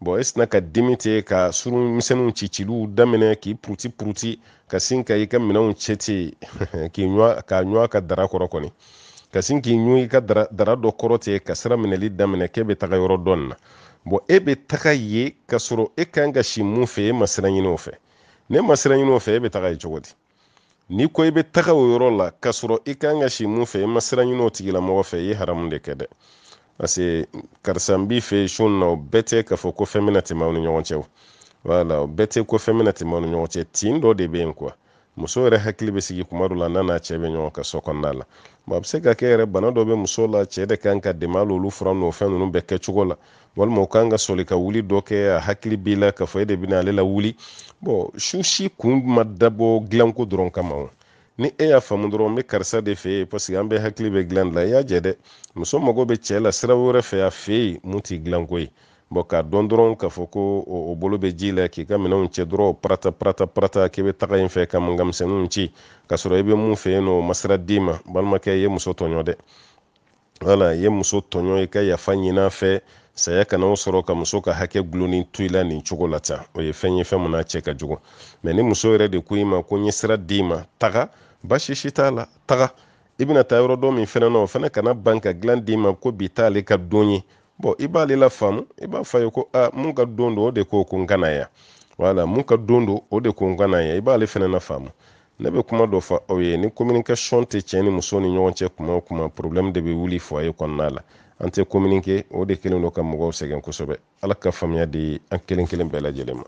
bɔn e sina ka dimi ten ka surun misɛnninw cicili daminɛ k'i puruti puruti ka sin ka i ka minɛnw cɛ ten k'i ɲɔ k'a ɲɔ ka dara kɔrɔ kɔni ka sin k'i ɲɔ i ka dara dara dɔ kɔrɔ ten ka sira minɛli daminɛ k'e be taga yɔrɔ dɔ in na bɔn e be taga yen ka sɔrɔ e kan ka si mun fɛ e ma sira ɲini o fɛ n'e ma sira ɲini o fɛ e be taga yen cogo di n'i ko i be taga o yɔrɔ la ka sɔrɔ i kan ka si mun fɛ i ma sira ɲini o tigilamɔgɔ fɛ i ye haramu de kɛ dɛ parce que karisa n b'i fɛ su in na o bɛɛ tɛ k'a fɔ ko fɛn bɛna tɛmɛ aw ni ɲɔgɔn cɛ o wala o bɛɛ tɛ ko fɛn bɛna tɛmɛ aw ni ɲɔgɔn cɛ tin dɔ de bɛ yen kuwa muso yɛrɛ hakili bɛ sigi kuma dɔ la n'a n'a cɛ bɛ ɲɔgɔn kan so kɔnɔna la bon a bɛ se ka kɛ yɛrɛ bana dɔ bɛ muso la cɛ de kan k'a dɛmɛ hali olu fura n'o fɛn ninnu bɛɛ kɛcogo la walima o kan ka soli ka wuli dɔ kɛ a hakili b'i la k'a fɔ e de bɛna ale lawuli bon su si kun ma dabɔ dilanko dɔrɔn kama o ni e y'a faamu dɔrɔn n bɛ karisa de fɛ yen paseke an bɛɛ hakili bɛ dilan de la i y'a jɛ dɛ muso mago bɛ cɛ la sira wɛrɛ fɛ a fɛ yen mun tɛ dilanko ye bɔn k'a dɔn dɔrɔn k'a fɔ ko o bolo bɛ ji la k'i ka minɛnw cɛ dɔrɔn parata parata parata k'i bɛ taga yen fɛ ka mankan misɛnninw ci k'a sɔrɔ i bɛ mun fɛ yen n'o ma sira d'i ma balimakɛ i ye muso tɔɲɔ dɛ wala i ye muso tɔɲɔ i ka yafa ɲin'a fɛ saya kana o sɔrɔ ka muso ka hakɛ gulonni to i la nin cogo la tan o ye fɛn ye fɛn mun n'a cɛ ka jugu mɛ ni muso yɛrɛ de ko i ma ko n ye sira d'i ma taga basi si t'a la taga i bɛna taa yɔrɔ dɔ min fɛnɛ na o fɛnɛ kana ban ka dilan d'i ma ko bi t'ale ka don ye bɔn i b'ale lafaamu i b'a fɔ a ye ko a mun ka don don o de ko ko n ka na yan wala mun ka don don o de ko n ka na yan i b'ale fɛnɛ nafaamu ne bɛ kuma dɔ fɔ aw ye ni communication tɛ cɛ ni muso ni ɲɔgɔn cɛ kuma o kuma problème de bɛ wuli foyer kɔnɔna la an tɛ communiquer o de kɛlen don ka mɔgɔw sɛgɛn kosɛbɛ ala ka faamuya di an kelen kelen bɛɛ lajɛlen ma